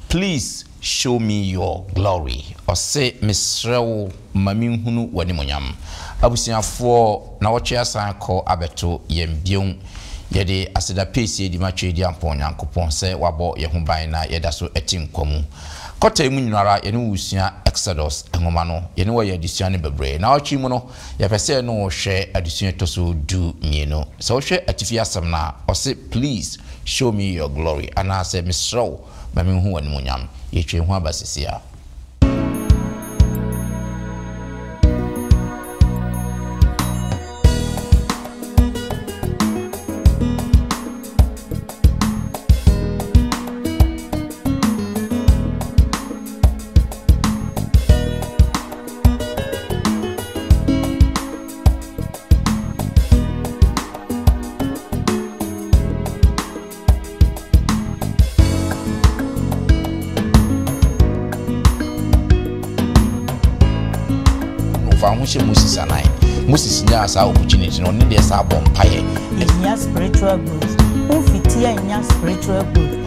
Please show me your glory Ɔse mesrɛ wo ma me nhunu w'animuonyam Abusuafoɔ nawɔtwe asan akɔ abɛto yɛn biom Yɛde aseda peesie di ma Tweediampɔn Nyankopɔn sɛ wabɔ yɛn ho ban na yɛdaso te nkwa mu Kɔtae mu nyinara yɛne wo resua Exodus nwoma no Yɛne wo yɛ adesua no bebree Nawɔtwe mu no Yɛpɛ sɛ yɛne wo hwɛ adesua a ɛtɔ so du mmienu. Sɛ wohwɛ atifi asɛm no a, ɔse Please show me your glory anaasɛ Mesrɛ wo ma menhu w'animuonyam. Yɛatwa ehu aba seesei a. fa ho hyɛ moses anan moses nyaa saa opportunity no ɔne deɛ saa bɔ mpaeɛ ɛhia spiritual growth womfiti ɛnya spiritual growth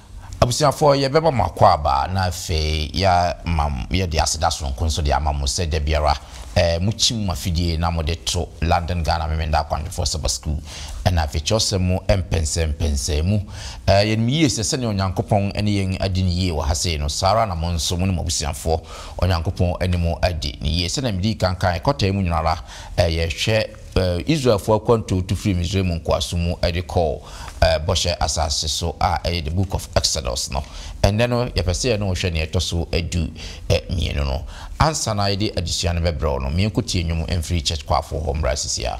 Abusuafoɔ, yɛbɛma mo akwaaba na afei yɛama yɛde aseda sononko nso de ama mo sɛ da biara mokyim mo afidie na mode to London Ghana Memeneda Akwanhwɛfoɔ Saba Sukuu ɛna afei kyerɛwsɛm mu mpɛnsɛmpɛnsɛɛ mu. Yɛnim yie sɛ sɛdeɛ Onyankopɔn ne yɛn adi no yie wɔ ha sei no, saa ara na mo nso mo ne mo abusuafoɔ, Onyankopɔn ne mo adi no yie. Sɛdeɛ medii kan kaeɛ, kɔtaa mu nyinara yɛhwɛ. Israelfo akwantu tu fii Misraim nkoasom mu de kɔɔ Bɔhyɛ Asase so a ɛyɛ The Book of Exodus no. Ɛnnɛ no, yɛpɛ sɛ yɛne wo hwɛ nea ɛtɔ so du mmienu no. Ansa na yɛde adesua no bɛbrɛ wo no, ma yɛnkɔtie nnwom mfiri Church Choirfoɔ hɔ mmra sisiaa.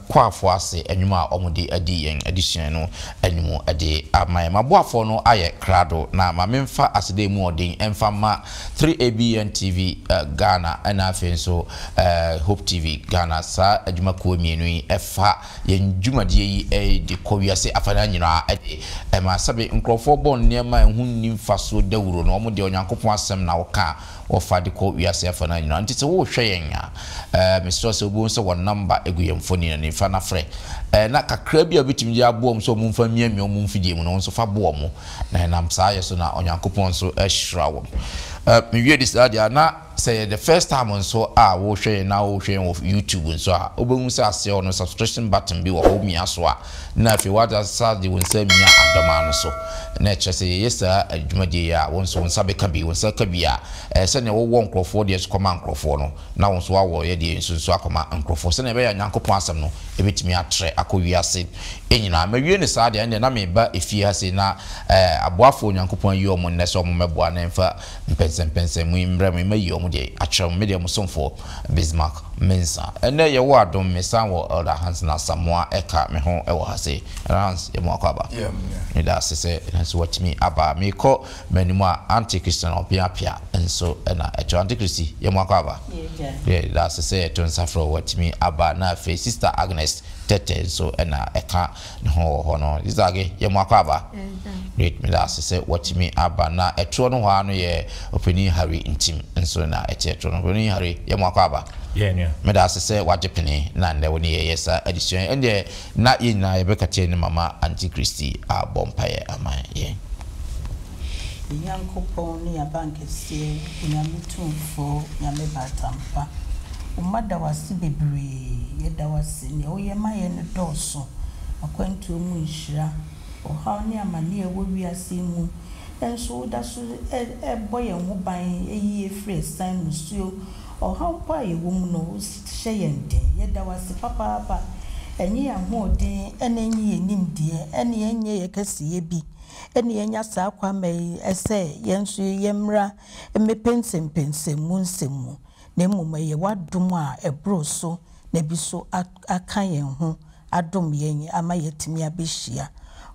Kwaafo ase nnwom a wɔde adi yɛn adesua no anim de ama yɛn. M'aboafoɔ no ayɛ krado na ma memfa aseda mu ɔden mfa mma 3ABN TV Ghana ɛna afei nso Hope TV Ghana. Saa adwuma kuo mmienu yi fa yɛn dwumadie yi de kɔ wiase afanan nyinaa de ma sɛbe nkurɔfoɔ bɔ nneɛma a ɛho nni mfasoɔ dawuro no, wɔn deɛ Onyankopɔn asɛm na wɔka a Wɔfa de kɔ wiase afa no ara nyinaa. Nti sɛ worehwɛ yɛn a, ɛɛ, mesrɛ wo sɛ wobɛhu sɛ wɔn nɔmba gu yɛn mfoni no anim. Fa na frɛ. Ɛɛ, na kakraa bi a wobɛtumi de aboa wɔn sɛ wɔmfa mmiamia wɔn mfidie mu no, wo nso fa boa wɔn. Na ɛnam saa yɛ so na Onyankopɔn nso ahyira wɔn. Ɛɛ, mewie de saa deɛ a, na sɛ ɛyɛ the first time nso a worehwɛ yɛn na worehwɛ yɛn wɔ YouTube nso a, wobɛhu sɛ aseɛ hɔ no subscription button bi wɔ hɔ, womia so a, na afei woade asa de wo nsa amia adɔmaa no so, na ɛkyerɛ sɛ yɛyɛ saa dwumadie yi a, wo nso wo nsa bɛka bi. Wo nsa reka bi a, ɛyɛ sɛdeɛ wowɔ nkorɔfoɔ deɛ nso kɔma nkorɔfoɔ no, na wo nso woawɔ yɛ deɛ nso nso akɔma nkorɔfoɔ, sɛdeɛ ɛbɛyɛ a Nyankopɔn asɛm no bɛtumi atrɛ akɔ wiase nyinaa. Mawie no saa deɛ, ɛnneɛ na mereba efie ha sei na aboafoɔ a Onyankopɔn ayi wɔn nnɛ sɛ wɔmmɛboa na ɛmfa mpɛnsɛmpɛnsɛmu yi mmrɛ mo yi, mayi wɔn deɛ akyerɛ mo, me deɛ mo somfoɔ. Bismarck Mensah. Ɛnnɛ yɛwɔ adom mesan wɔ Elder Hanson Asamoah Ɛka me ho wɔ ha se. Elder Hans yɛ moakɔ aba. Meda ase sɛ nso watumi aba. Meekɔ m'anim a Auntie Christiana Ɔpea Apea nso na ɛto. Auntie Christy yɛ moakɔ aba. Yɛda ase sɛ Ɛto Nsafrɛ watumi aba na afei Sister Agnes Tɛtɛ nso na ɛka. Ne ho wɔ hɔ no, Isage yɛ mo akwaaba. Great meda ase sɛ watumi aba. Na ɛtorɔ no hɔ ara no yɛ Opanin Harry ntim nso na ɛteɛ torɔ no. Opanin Harry yɛ mo akwaaba. Yɛn nua. Meda ase sɛ wagye pene na nnɛ wo ne yɛn yɛ saa adesua yi. Ɛndeɛ na yɛn nyinaa yɛbɛkata anim ama Anti Kristi abɔ mpaeɛ ama yɛn. Nyankopɔn ne yɛn abankɛseɛ. Ɔse Nyame tumfoɔ Nyame baatampa Oma da wase bebree Yɛda wase nea woyɛ ma yɛ no dɔɔso Akwantuo mu nhyira Ɔhaw ne amaneɛ ɛwɔ wiase yi mu Nso wodaso bɔ yɛn ho ban Yi yɛ firi ɛsan mu suo Ɔhaw mpo a yɛwɔ mu no wohyɛ yɛn den Yɛda wase papaapa Ɛnyɛ yɛn ahoɔden ɛna ɛnyɛ yɛn nimdeɛ Ɛne ɛnyɛ yɛn kɛseyɛ bi na yɛanya saa kwamma yi sɛ yɛn nso yɛmmra mmepɛ nsɛmpɛnsɛmu nsɛm mu, na mmom ɛyɛ w'adom a ɛboro so na bi nso aka yɛn ho adom yɛn ama yɛatumi abɛhyia.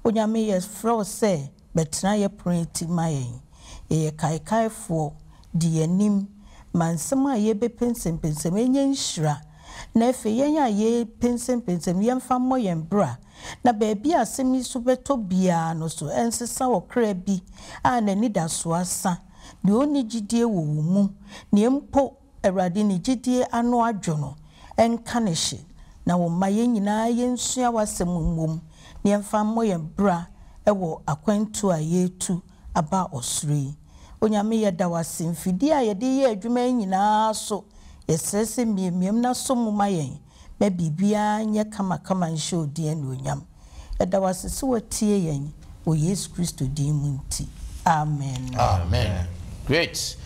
Onyame, yɛfrɛ wo sɛ bɛtena yɛn pono yi ti ma yɛn. Yɛyɛ kaekaefoɔ, di yɛn anim ma nsɛm a yɛbɛpɛ nsɛmpɛnsɛmu ɛnyɛ nhyira Na afei yɛn a yɛrepensenpensem, yɛmfa mmɔ yɛn bra, na baabi a asem yi so bɛtɔ biara no so ɛnsesa ɔkra bi a n'anidasoɔ asa, deɛ ɔnni gyidie wɔ wo mu, deɛ mpo Awurade ne gyidie ano adwo no, ɛnka no hye. Na wo mma yɛn nyinaa yɛnsua w'asem mmom, na yɛmfa mmɔ yɛn bra wɔ akwantuo a yɛretu aba ɔsoro yi. Onyame yɛda wo ase, mfidie a yɛde reyɛ adwuma yi nyinaa so, yɛsrɛ sɛ mmiammiam na sɔ mu ma yɛn na biribiara nyɛ kamakama nhyɛ wo din anuonyam. Yɛda wo ase sɛ woatie yɛn wɔ Yesu Kristo din mu nti, amen. Amen! Great!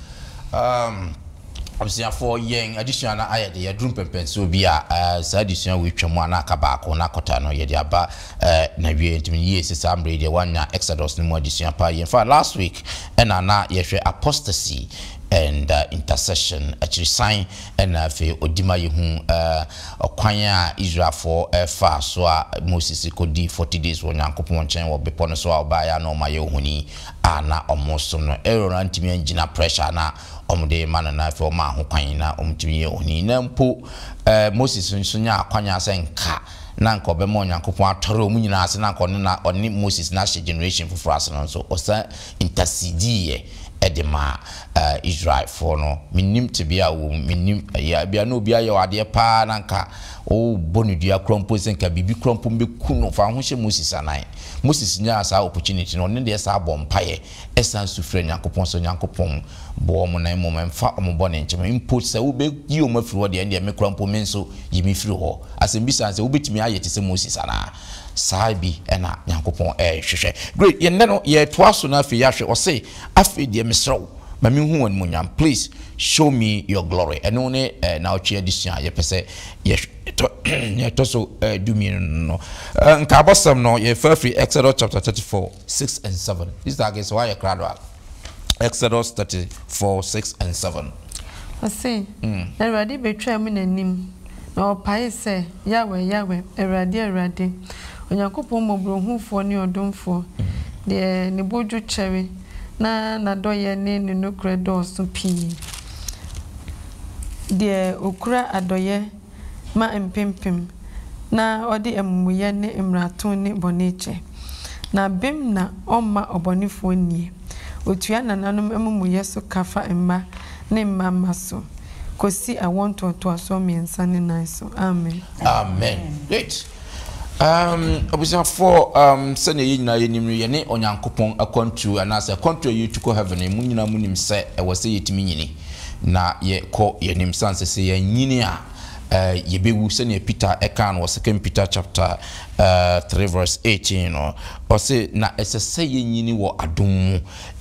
Abusuafoɔ, yɛn adesua no ayɛ de, yɛduru mpɛmpɛnsoɔ bi a, eh, saa adesua wei twam a na aka baako, na kɔta no yɛde aba eh, n'awieɛ. Nti me yie sɛ saa mmerɛ yi deɛ woannya Exodus no mu adesua paa yie. In fact, last week ɛna na yɛhwɛ Apostasy and uh, Intercession, akyirisan ɛna afei ɔdi ma yɛhu eh, ɔkwan a Israelfoɔ eh, faa so a Moses kɔdi 40 days wɔ Nyankopɔn nkyɛn wɔ bepɔ no so a ɔbaeɛ a na ɔma yɛ ohoni a na ɔmo som no. Aaron antumi angyina pressure a na wɔde ma no na afei wɔmaa hokwan na wɔtumi yɛ ohoni. Na mpo Moses nso nyaa akwannya sɛ nka na nka ɔbɛma Onyankopɔn atɔre wɔn nyinaa ase na nka ɔne na ɔne Moses na ahyɛ generation foforɔ ase no nso ɔsan intercedeeɛ de maa Israelfoɔ no. Mennim tebea a wowɔ mu, mennim ɛyɛ a ebia na obi ayɛ wo adeɛ paa na nka wobɔ no dua koraa mpo sɛ nka biribi koraa mpo bɛku no. Fa wo ho hyɛ Moses anan. Moses nyaa saa opportunity no, ɔno deɛ saa bɔɔ mpaeɛ Ɛsan nso frɛ Nyankopɔn sɛ, Onyankopɔn, boa wɔn na mmom mfa wɔn bɔne nkyɛ me. Mpo sɛ wobeyi wɔn afiri hɔ deɛ, ɛnneɛ me koraa mpo, me nso, yi me firi hɔ. Asɛmmisa ne sɛ, wobetumi ayɛ te sɛ Moses anaa? Saa bi na Nyankopɔn rehwehwɛ. Great, yɛn nnɛ no, yɛretoa so na afei yɛahwɛ. Ɔse, Afei deɛ, mesrɛ wo, ma menhu w'animuonyam. Please, show me your glory. Ɛno ne nnawɔtwe adesua a yɛpɛ sɛ yɛhwɛ. Ɛtɔ, nea ɛtɔ so dummienu no, nkaabɔsɛm no, yɛrefa afiri Exodus chapter thirty four. Six and seven, Easter age sɛ wayɛ krado a, Exodus thirty four six and seven. Ɔse, Na Awurade betwaa mu n'anim, na ɔpaee sɛ, Yahweh, Yahweh, Awurade, Awurade, Onyankopɔn mmɔborɔhunufoɔ ne ɔdomfoɔ, deɛ ne bo dwo kyɛre, na n'adɔeɛ ne ne nokorɛ dɔɔso pii, deɛ ɔkura adɔeɛ, ma mpempem, na ɔde amumuyɛ ne mmarato ne bɔne kyɛ. Na bem na ɔmma ɔbɔnefoɔ nnie. Ɔtua nananom amumuyɛ so ka fa mma ne mma mma so, kɔsi awoɔ ntoatoasoɔ mmiɛnsa ne nan so. Amen. Amen. Um, abusuafoɔ, um, sɛdeɛ yɛn nyinaa yɛnim no, yɛne Onyankopɔn akwantuo anaasɛ akwantuo a yɛtu kɔ heaven mu nyinaa mu nim sɛ ɛwɔ sɛ yɛtumi nyini na yɛkɔ yɛn anim sane sɛ sɛ yɛnyini a uh, yɛbɛwu sɛdeɛ Peter ɛkaa no wɔ 2 Peter chapter uh, 3 verse 18 no ɔse na ɛsɛ sɛ yɛnyini wɔ adom mu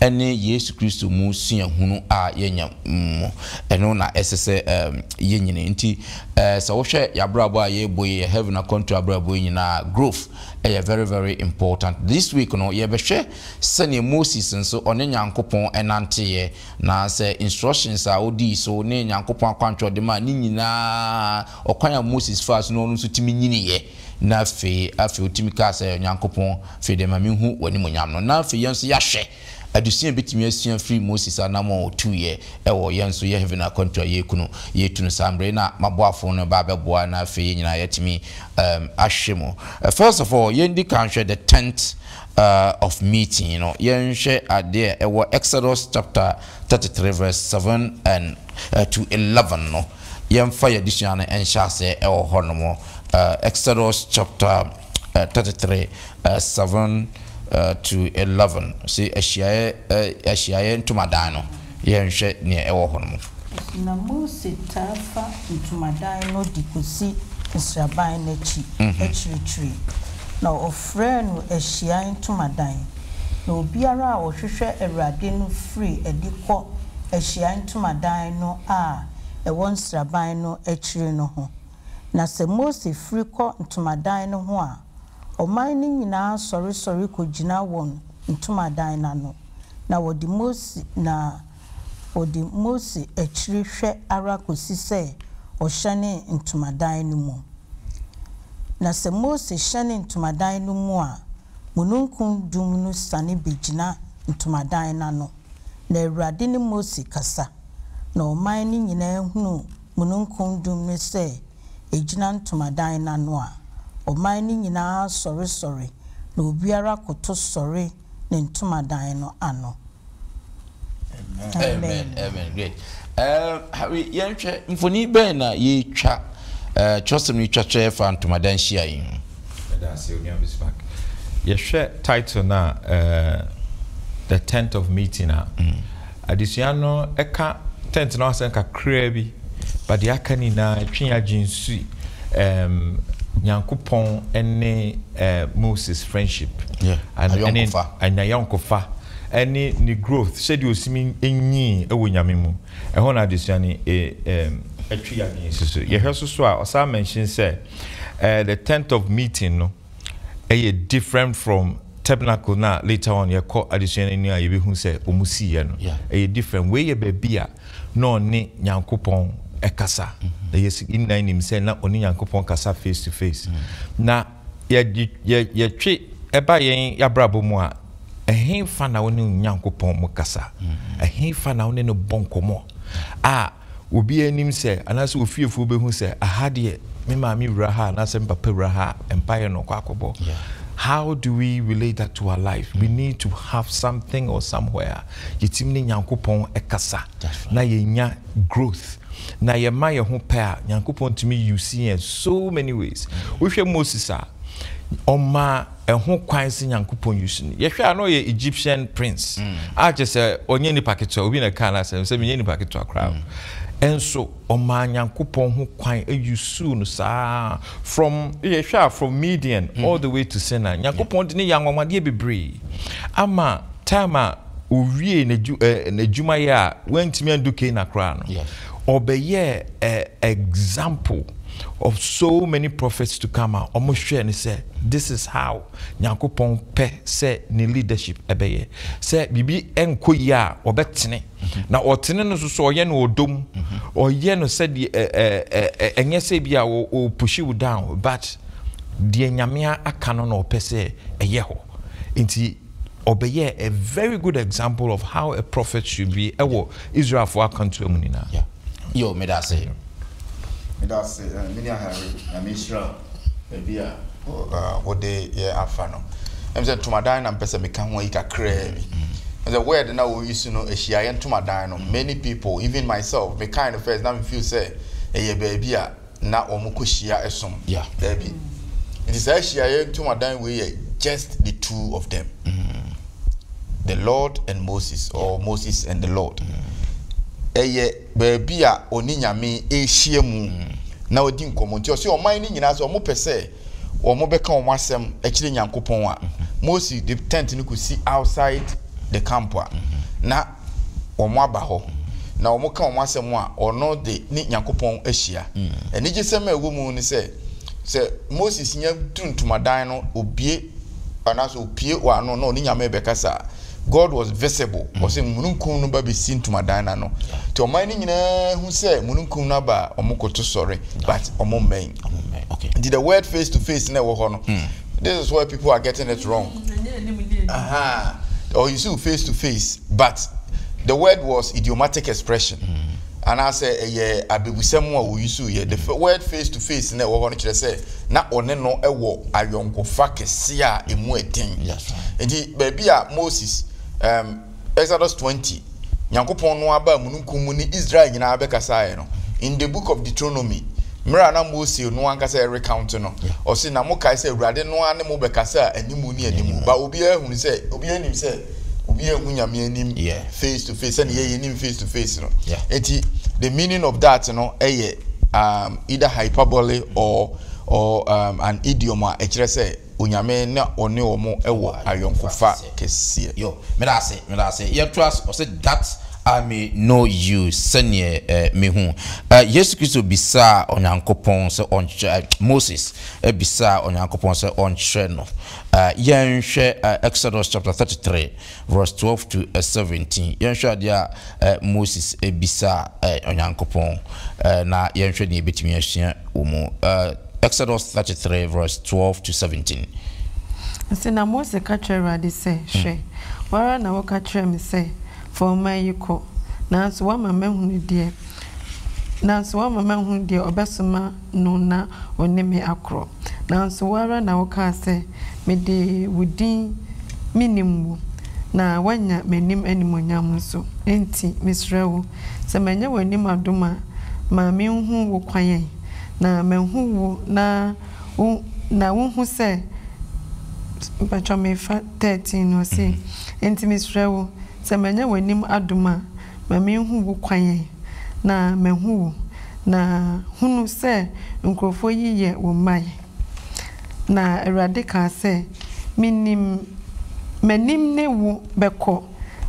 ne Yesu Kristo mu suahunu a yɛanya mu. Ɛno na ɛsɛ sɛ yenyin. Enti, sɛ wohwɛ yɛn abrabɔ a yɛrebɔ yi, yɛn heaven akwantu abrabɔ yi nyinaa a, growth yɛ very very important. This week no, yɛbɛhwɛ sɛnea Moses nso ɔne Nyankopɔn nanteeɛ, na sɛ instructions a odii so ne Nyankopɔn akwankyerɛ a ɔde mae no nyinaa, ɔkwan a Moses faa so no ɔno nso tumi nyiniiɛ. Na afei, afei wotumi kaa sɛ, Onyankopɔn, afei deɛ ma menhu w'animuonyam no. Na afei yɛn nso yɛahwɛ adesua a yɛbɛtumi asua afiri Moses anammɔn a ɔtuiɛ wɔ yɛn nso yɛn heaven akwantuo a yɛreku no, yɛretu no saa mmerɛ yi na m'aboafoɔ no reba abɛboa na afei yɛn nyinaa yɛatumi ahwɛ mu. First of all, yɛndi kan nhwɛ the tent of meeting no. Yɛnhwɛ adeɛ a ɛwɔ Exodus chapter thirty three verse seven and to eleven no. Yɛmfa yɛn adesua no nhyɛ aseɛ wɔ hɔnom. Exodus chapter thirty three seven to eleven se ahyiaeɛ ahyiaeɛ ntomadan no yɛnhwɛ neɛ ɛwɔ hɔ no mu. Na Mose taa fa ntomadan no de kɔsi nsraban no akyi akyirikyiri, na ɔfrɛɛ no ahyiaeɛ ntomadan, na obiara a ɔhwehwɛ Awurade no firi adi kɔ ahyiaeɛ ntomadan no a ɛwɔ nsraban no akyiri no ho, Na sɛ Mose firi kɔ ntomadan no ho a, ɔman no nyinaa sɔresɔre kɔgyina wɔn ntomadan no ano, na wɔde Mose na wɔdi Mose akyiri hwɛ ara kɔsi sɛ ɔhyɛne ntomadan no mu. Na sɛ Mose hyɛne ntomadan no mu a, mununkum dum no siane bɛgyina ntomadan no ano, na Awurade ne Mose kasa, na ɔman no nyinaa hunu mununkum dum no sɛ egyina ntomadan no ano a, ɔman no nyinaa sɔresɔre, na obiara koto sɔre ne ntomadan no ano. Amen. Yɛnhwɛ mfoni bɛn na yɛatwa, kyerɛwsɛm no twa kyerɛ fa ntomadan hyia yi ho. Yɛda ase Onua Bismarck. Yɛhwɛ title no a, The Tent of Meeting a, Adesua no ka tent no ho asɛm kakraa bi, but deɛ aka no nyinaa ɛtwe yɛn adwene si um, Nyankopɔn ne uh, Moses friendship, yeah. ayɔnkofa, ɛne ne growth sɛdeɛ osimi nyii ɛwɔ Nyame mu. Ɛhɔ na adesua no ɛtwe yɛn adwene si so. Yɛhwɛ so so a ɔsan mention sɛ uh, the tent of meeting no. yɛ different from tabernacle na later on yɛkɔ adesua no ani a yɛbɛhu sɛ ɔmu siiɛ no ɛyɛ different wei yɛ baabi a na ɔne nyankopɔn ɛkasa mm-hmm. na yɛsi nyinaa nim sɛ na ɔne nyankopɔn kasa face to face mm-hmm. na yɛtwe ɛba yɛn yɛabrabɔ mu a ɛhefa na wo ne nyankopɔn mu kasa mm-hmm. ɛhefa na wo ne no bɔ nkɔmmɔ a obiara anim sɛ, anaasɛ ofiefoɔ bɛhu sɛ, aha deɛ me maame wura ha anaasɛ me papa wura ha a, mpaeɛ na ɔkɔ akɔbɔ. How do we relate that to our life? We need to have something or somewhere a yɛtumi ne Nyankopɔn kasa na yɛnya growth. Na yɛma yɛn ho pɛ a, Nyankopɔn tumi use yɛn so many ways. Wohwɛ Moses a, ɔmaa Ɛho kwan sɛ Nyankopɔn use no. Yɛhwɛ a na ɔyɛ Egyptian prince a kyerɛ sɛ ɔnyɛ nipa ketewa. Obi na ɛkaa no asɛm sɛ menyɛ nipa ketewa koraa o. Nso ɔmaa Nyankopɔn ho kwan usuu no saa from yɛhwɛ a from Midian all the way to Sinai. Nyankopɔn de no yɛ anwanwadeɛ bebree ama time a owiee n'adwumayɛ a wantumi andu Cana koraa no. Ɔbɛyɛɛ a example of so many prophets to come a wɔn hwɛɛ no sɛ this is how Nyankopɔn pɛ sɛ ne leadership bɛyɛ. Sɛ biribi nkɔ yie a ɔbɛtene, na ɔtene no nso so ɔyɛ no ɔdɔ mu, ɔyɛ no sɛdeɛ ɛnyɛ sɛ ebia ɔrepushi wo down but deɛ Nyame aka no na ɔpɛ sɛ ɛyɛ hɔ nti. ɔbɛyɛɛ a very good example of how a prophet should be ɛwɔ Israelfoɔ akantoa mu nyinaa. Yeah. Yo, meda ase. Meda ase, eh, mene ahare, na menhyira baabi a wode yɛ afa no. Ɛm sɛ ntomadan na mpɛ sɛ meka ho ayi kakraa bi. Ɛm sɛ word na wɔyi so no, ahyiaeɛ ntomadan no, many people, even myself, mekae no first na mefeel sɛ ɛyɛ baabi a na wɔkɔhyia som. Yeah. Daabi. Nti saa ahyiaeɛ ntomadan wei yɛ just the two of them. Mm. The Lord and Moses yeah. or Moses and the Lord. Ɛyɛ mm. baabi a ɔne Nyame ɛhyia mu mm. na ɔdi nkɔmmɔ. Nti ɔsɛ ɔman no nyinaa sɛ wɔn pɛ sɛ wɔn bɛka wɔn asɛm akyerɛ Nyankopɔn a, mm-hmm. Moses de tent no kɔsi outside the camp a, mm-hmm. na wɔaba hɔ, na wɔka wɔn asɛm a, wɔn de ne Nyankopɔn ahyia. Anigyesɛm a ɛwɔ mu ne sɛ, sɛ Moses nya duru ntomadan no, obue anaasɛ opue wɔn ano na ɔne Nyame rebɛkasa a, God was visible. Mm. Ɔsɛ mununkum no ba bɛsi ntomadan no ano. Nti ɔman no nyinaa hu sɛ mununkum no aba a, wɔn koto sɔre, but wɔn mmɛn. Nti the word face to face na ɛwɔ hɔ no, mm. this is where people are getting it wrong uh-huh. or you see face to face but the word was idiomatic expression And I say, ɛyɛ abebusɛm a wɔyi so yɛ the word face to face na ɛwɔ hɔ no kyerɛ sɛ na ɔne no wɔ ayɔnkofa kɛse a emu ɛden nti baabi a moses um, Exodus 20, Nyankopɔn no ara baa mununkum mu ne Israel nyinaa bɛkasaeɛ no, in the book of Deuteronomy, mmerɛ a na Mose no ankasa ɛrecounte no, ɔse, na mokae sɛ Awurade no ara ne mo bɛkasaa animu ne animu, but obiara ahunu sɛ, obiara nim sɛ, obiara anhu Nyame anim face to face, sɛdeɛ yɛ yɛnim face to face no, enti the meaning of that no yɛ um, either hyperbole or, or um, an idiom a ɛkyerɛ sɛ Onyame na ɔne wɔn wɔ ayɔnkofa. kɛseɛ. Yo meda ase meda ase yɛn to ase ɔse that I may know you sɛneɛ eh me hu eh Yesu Kristo bisaa Onyankopɔn sɛ ɔnkyerɛ eh Moses eh bisaa Onyankopɔn sɛ ɔnkyerɛ no eh yɛn hwɛ eh Exodus chapter thirty three verse twelve to eh seventeen yɛn hwɛ adeɛ a Ɛ Moses bisaa ɛ Onyankopɔn ɛ na yɛnhwɛ nea yɛbɛtumi asua wɔ mu ɛ Exodus 33 verse 12 to 17. Ɔse, Na Mose ka kyerɛɛ Awurade sɛ, Hwɛ, wo ara na woka kyerɛɛ me sɛ, 'Fa ɔman yi kɔ, nanso woama mahunu deɛ nanso woama mahunu deɛ ɔbɛsoma no na ɔne me akorɔ, nanso wo ara na wokaa sɛ, 'Mede wo din menim wo, na woanya m'anim animuonyam nso. Enti mesrɛ wo, sɛ manyɛ w'anim adom a, ma menhu wo kwan ɛ, na mahu wo na wo na wohu sɛ Mpakyɛw mefa thirteen no, ɔse, Enti mesrɛ wo, sɛ manyɛ w'anim adom a, Ma menhu wo kwan ɛ, na mahu wo, na hunu sɛ nkurɔfoɔ yi yɛ wo mma ɛ. Na Awurade kaa sɛ, Menim, m'anim ne wo bɛkɔ,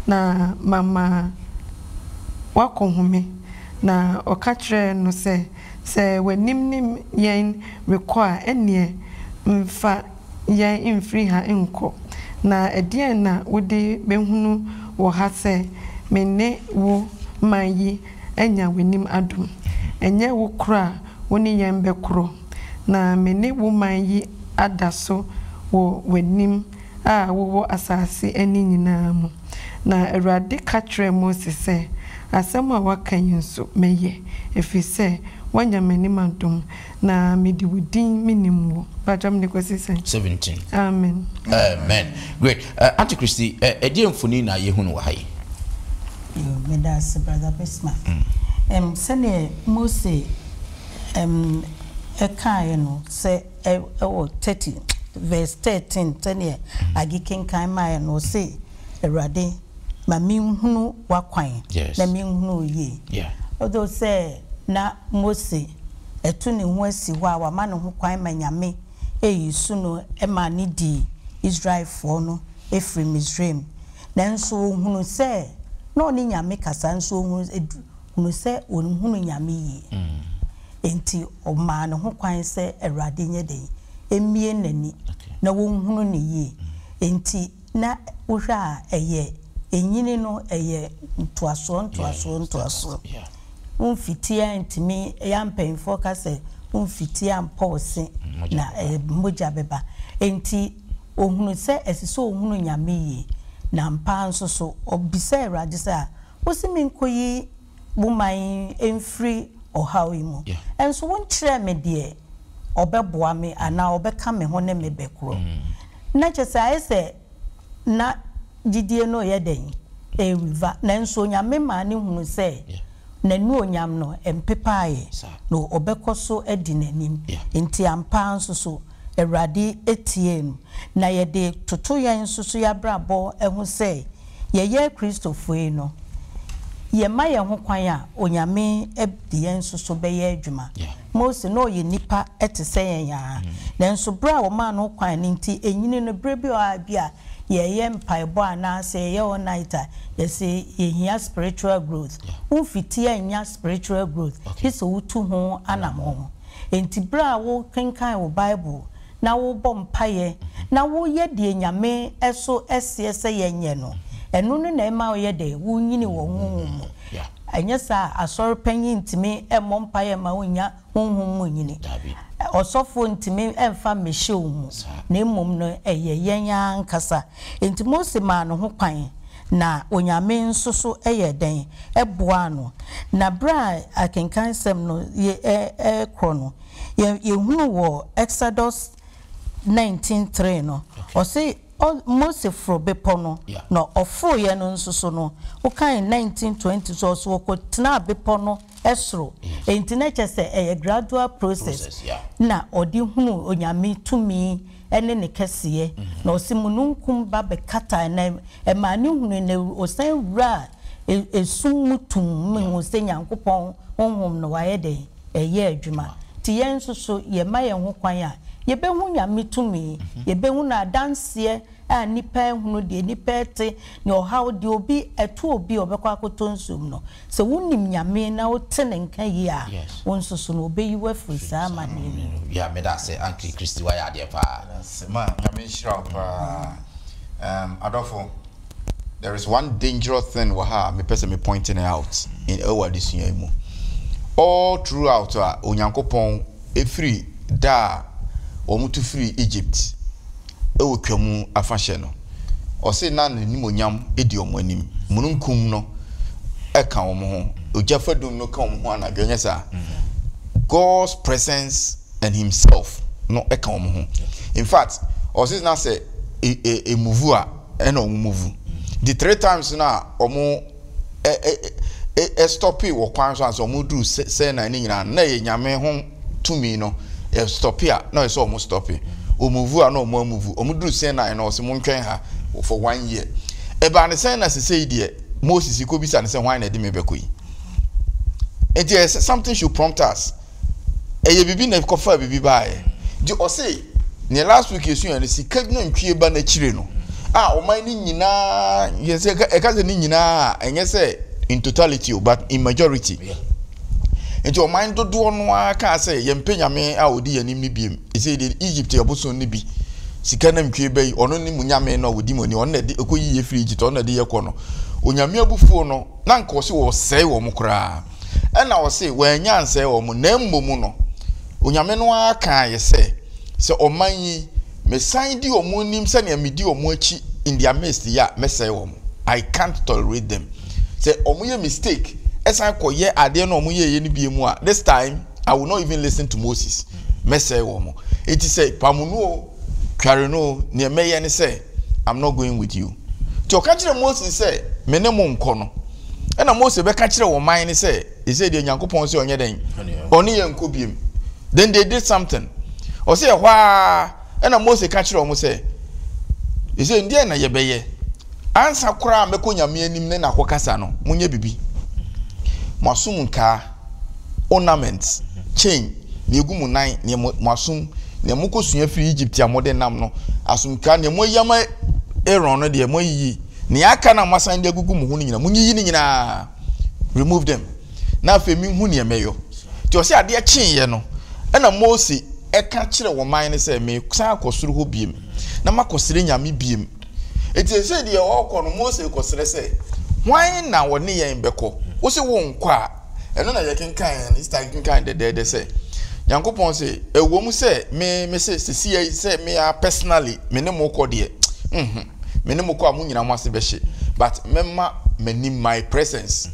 na mama woakɔhome. Na ɔka kyerɛɛ no sɛ, Sɛ w'anim ne yɛn rekɔ a, ɛnneɛ mfa. yɛn mfiri ha nkɔ, na ɛdeɛn na wode bɛhunu wɔ ha sɛ me ne wo man yi anya w'anim adom? Ɛnyɛ wo korɔ a wo ne yɛn bɛkorɔ, na me ne wo man yi ada so wɔ w'anim a wowɔ asase ani nyinaa mu. Na Awurade ka kyerɛɛ Mose sɛ, Asɛm a woaka yi nso mɛyɛ, ɛfiri sɛ woanya m'anim adom. Na me de wo din me nim wo. Mpakyɛw mede kɔsi sɛn. Seventeen. Amen. Amen great eh, Auntie Christy eh, ɛdeɛ mfoni na yɛhu no wɔ ha yi? Yo, meda ase brother Bismarck. Ɛm, sɛdeɛ Mose ɛm ɛkaeɛ no sɛ ɛ ɛwɔ thirty verse thirteen sɛdeɛ Age kenkan maeɛ no ɔse Awurade ma menhunu w'akwan Yes. na menhunu wo yie Yeah. although sɛ na Mose atu ne ho asi hɔ a wama ne ho kwan ma Nyame eyi so no ma ne dii Israelfoɔ no firi Misraim. Nanso ɔhunu sɛ na ɔne Nyame kasa nso ɔhunu sɛ ɔnhunu Nyame yie. Enti ɔmaa ne ho kwan sɛ Awurade nyɛ dɛn? Mmue n'ani na ɔnhunu no yie. Enti. Na wohwɛ a ɛyɛ ɛnyini no ɛyɛ ntoasoɔ ntoasoɔ ntoasoɔ womfitie antumi yɛa mpanyinfoɔ ka sɛ womfitie ampɔ wo se na mogya bɛba enti ohunu sɛ ɛsɛ sɛ ohunu nyame yie na ampa ara nso so ɔbisa awurade sɛ a wose menkɔyi mo man yi mfiri ɔhaw yi mu. Nso wonkyerɛɛ me deɛ ɔbɛboa me anaa ɔbɛka me ho ne me bɛkorɔ. Na kyerɛ sɛ, ayɛ sɛ na gyidie no reyɛ dɛn? Ɛreweva. Nanso Onyame maa no hunuu sɛ n'anuonyam no mpepaeɛ, na ɔbɛkɔ so adi n'anim. Enti ampa ara nso so, Awurade tiee no. Na yɛde toto yɛn nso so yɛn abrabɔ ho sɛ, Yɛyɛ Kristofo ei no, yɛma yɛn ho kwan a Onyame de yɛn nso so bɛyɛ adwuma. Mose, na ɔyɛ nipa te sɛ yɛn ara, nanso bere a wɔmaa no kwan no nti, enyini no, bere bi wɔ hɔ a bi a yɛyɛ mpaebɔ anaa sɛ yɛyɛ all night a, yɛse yɛhia spiritual growth. Wo mfiti annya spiritual growth, gye sɛ wotu ho anamɔn. Enti bere a wokenkan wo Bible, na wobɔ mpaeɛ, na woyɛ deɛ Nyame so seɛ sɛ yɛnyɛ no, ɛno no na ɛma woyɛ dɛ? Wonyini wɔ honhom mu. Anyɛ saa a, asɔre panyin ntumi mmɔ mpaeɛ mma wo nnya honhom mu nyini. Ɔsɔfoɔ ntumi mfa mmɛhyɛ wo mu, na mmom no ɛyɛ yɛn ara ankasa. Enti Mose maa ne ho kwan, na Onyame nso so yɛɛ dɛn? Ɛboaa no. Na berɛ a akenkan sɛm no rekorɔ no, Yɛ yɛhunu wɔ Exodus nineteen three no, ɔse ɔ Mose foro bepɔ no, na ɔforoeɛ no nso so no, wo kan nineteen twenty nso ɔse ɔkɔ tenaa bepɔ no soro, enti na ɛkyerɛ sɛ ɛyɛ gradual process na ɔde hunu Onyame tumi ne ne kɛseɛ, na ɔse mununkum ba bɛkataa na ɛmaa no hunui, na ɔsan wuraa esum mu tumm, mehu sɛ Nyankopɔn Honhom no wayɛ dɛn? ɛyɛ adwuma. Nti yɛn nso so, yɛma yɛn ho kwan a, yɛbɛhu Nyame tumi, yɛbɛhu N'adanseɛ a nnipa rehunu, deɛ nnipa rete, ne ɔhaw, deɛ obi, ɛto obi a ɔbɛkɔ akɔtɔ nsuo mu no. Sɛ wonim Nyame na wote Ne nka yie a, wo nso so no, Ɔbɛyi wo afiri saa amaneɛ no mu. Yeah, meda ase Auntie Christy, wayɛ adeɛ paa. Meda ase, ma Nyame nhyira wo paa. Erm adɔfo. There is one dangerous thing wɔ ha a mepɛ sɛ me point it out in ɛwɔ adesua yi mu. All throughout a Onyankopɔn ɛfiri da a wɔn tu firi Egypt ɛwɔ twa mu afahyɛ no, ɔse na ne nimonyam ɛdi wɔn anim. Mununkum no ɛka wɔn ho, ogya fadum no ka wɔn ho anadwo, ɛnyɛ saa? God's presence and himself no ɛka wɔn ho. In fact, ɔse na sɛ ɛmuvu a, ɛna wɔn mu vu nti three times no a wɔn ɛ ɛ ɛ ɛstɔpee wɔ kwan so ansa wɔn duru sɛ sɛ na ne nyinaa na yɛ nyame ho tumi no ɛstɔpee a na ɔsɛ wɔn stɔpee wɔn vu a na wɔn amu vu wɔn duru sɛ na no ɔsɛ mo ntwɛn ha for one year ɛbaa ne sɛ na sese yi deɛ Moses kɔ bisa ne sɛ hwan na ɛde me bɛkɔ yi nti ɛsɛ something should prompt us. ɛyɛ biribi na ɛkɔfa biribi baeɛ nti ɔse neɛ last week yɛsua no sika nantwie ba no akyire no a ɔman no nyinaa yɛ sɛ ɛka sɛ ne nyinaa ɛnyɛ sɛ in totality o but in majority nti ɔman dodoɔ no ara kaa sɛ yɛmpɛ nyame a ɔdi yɛn anim no biem ɛsɛ deɛ Egypt abosom no bi sika nantwie ba yi ɔno ne mu nyame no a ɔdi mu ani ɔno na ɛde ɛkɔ yiye firi Egypt ɔno na ɛde yɛ kɔ no onyame abufuo no na nka ɔse wɔsɛe wɔn koraa Ɛnna wɔse wɔannya ansɛe wɔn mo, na mmom no, Onyame no ara kaeɛ sɛ, Sɛ ɔman yi, mesan di wɔn nim sɛdeɛ medi wɔn akyi in their midst yɛ a, mɛsɛe wɔn. I can't tolerate them. Sɛ wɔyɛ mistake, ɛsan kɔyɛ adeɛ no a wɔyɛeɛ no bio mu a, this time, I will not even listen to Moses. Mɛsɛe wɔn. Enti sɛ Pamunu o, Tware no o, neɛ mɛyɛ ne sɛ, I'm not going with you. Nti ɔka kyerɛ Moses sɛ, me ne mo nkɔ no. Ɛna Mose bɛka kyerɛ ɔman no sɛ, ɛsɛ deɛ Nyankopɔn sɛ ɔnyɛ dɛn? Ɔne yɛn nkɔ biem. Then they did something. Ɔsɛ ɛhɔ ara, ɛna Mose ka kyerɛ wɔn sɛ, ɛsɛ deɛ na yɛbɛyɛ? Ansa koraa mɛkɔ Nyame anim ne na kɔkasa no, monyɛ bibi. Mo asom nkaa. ornaments, chain, nea egu mo nan, nea mo mo asom, nea mo kɔ sua firi Egypt a mo de nam no, asomtwa, nea mo ayi ama Aaron no deɛ mo ayiyi, nea aka na mo asan de agugu mo ho no nyinaa mo nyiyi ne nyinaa, remove them, na afei me hu nea mɛyɔ. Nti ɔsɛ adeɛ kyee yɛ no, ɛna Mose ɛka kyerɛ wɔn man no sɛ me san akɔ soro hɔ biem, na makɔ srɛ nyame biem. Enti ɛsɛ deɛ ɔrekɔ no, Mose rekɔsrɛ sɛ, Hwan na ɔne yɛn bɛkɔ? Wo se wonkɔ a, ɛno na yɛkenkan ne sista kenkan dɛdɛɛdɛ sɛ, Nyankopɔn se, ɛwom sɛ me mese sesia yi sɛ me ara personally me ne mo kɔ deɛ, nhu, me ne mo kɔ a mo nyina mo ase bɛhye, but mɛma m'anim, my presence,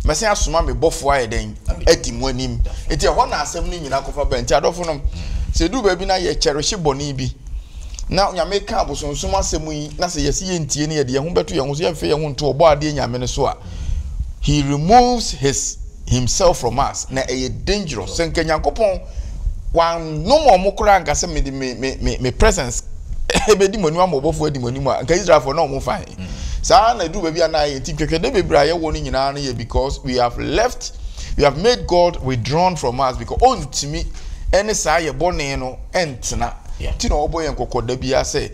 mɛsɛn asoma me bɔfoɔ ayɛ dɛn, adi mo anim. Enti ɛhɔ na asɛm no nyina kɔfa bɛn. Enti adɔfo nom, sɛ ɛduru baabi na yɛkyɛrehye bɔne bi, na Nyame ka abosonsom asɛm yi na sɛ yɛsi yɛn tie no yɛde yɛn ho bɛto yɛn ho so yɛmfɛ yɛn ho nto ɔbɔ adeɛ Nyame no so a he removes his himself from us na ɛyɛ dangerous sɛ nka Nyankopɔn wanom ɔmo koraa nka sɛ mede me me me me presence ɛbɛdi mo anim ama ɔbɔfoɔ adi mo anim a nka Israelfoɔ na ɔmo fa he saa na ɛduru baabi a na ayɛ nti ntwɛtwɛdɛ bebree a yɛwɔ no nyinaa no yɛ because we have left we have made God withdrawn from us because ɔntumi ɛne saa yɛ bɔne no ɛntena nti na ɔbɔ yɛn kɔkɔ da biara sɛ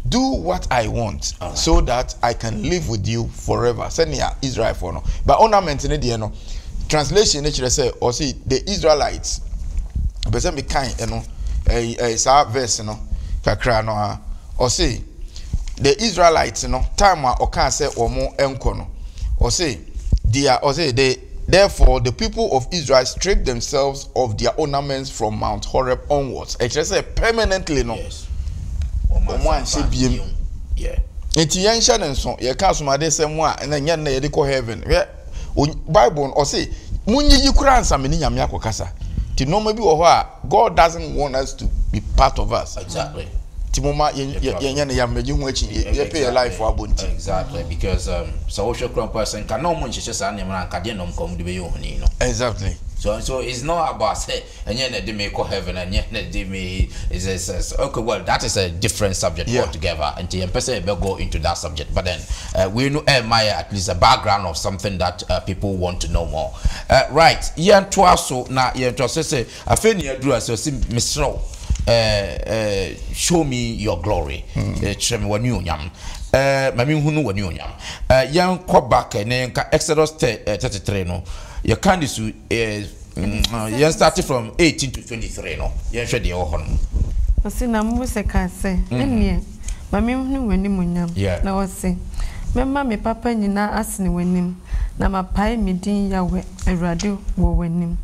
do what I want so that I can live with you forever sɛnea Israelfoɔ no ba ornament no deɛ no translation no kyerɛ sɛ ɔsi the Israelites pɛ sɛ mekan ɛno ɛyi ɛyi saa verse no kakra no a ɔsi the Israelites no time a ɔkaa sɛ wɔn nkɔ no ɔsi deɛ ɔsi the Therefore the people of Israel stripped themselves of their ornaments from Mount Horeb onwards. Ɛkyerɛ sɛ permanently no, Yes. Wɔn wɔn anhyɛ ansa biem. bio. Yeah. Nti yɛnhyɛ ne nso, yɛka asomadesɛm a ɛna nyɛ nnɛ yɛde kɔ heaven. Hwɛ, Onye- Bible no, ɔse, monyiyi koraa ansa me ne Nyame akɔkasa. Nti nneɛma bi wɔ hɔ a, God doesn't want us to be part of us. Exactly. Ti mo ma yɛn yɛn yɛn ne yam mɛgye ho akyi yɛ pay yɛ life abo nti. Exactly because um, sɛ wohwɛ kura mpo sɛ nka na wɔn nhyehyɛ saa nneɛma na nka deɛ na wɔn kɔn mu de bɛyɛ ohoni no. Exactly. So so it's not about sɛ ɛnyɛ na ɛde me kɔ heaven ɛnyɛ na ɛde me is is is okay well that is a different subject yeah. altogether nti yɛn pɛ sɛ yɛbɛ go into that subject but then uh, wei no ɛma yɛ at least a background of something that. People want to know more eh right yɛn toa so na yɛn toa so sɛ afei ne aduru ase ɔsi mesrɛ wo eh eh show me your glory mm. eh, kyerɛ me wani onyam eh ma me hunu wani onyam eh yɛn kɔ back eh, ne yɛn ka Exodus 33 eh, no yɛ kan de su eh Mm, yɛn start from eighteen to twenty three no yɛnhwɛ deɛ ɛwɔ hɔ no. ɔsi na mose kaa sɛ mm. ɛneɛ ma menhunu w'animuonyam na ɔse mɛma me papa nyinaa asene w'anim na mapae me din yawɛ awurade wɔ w'anim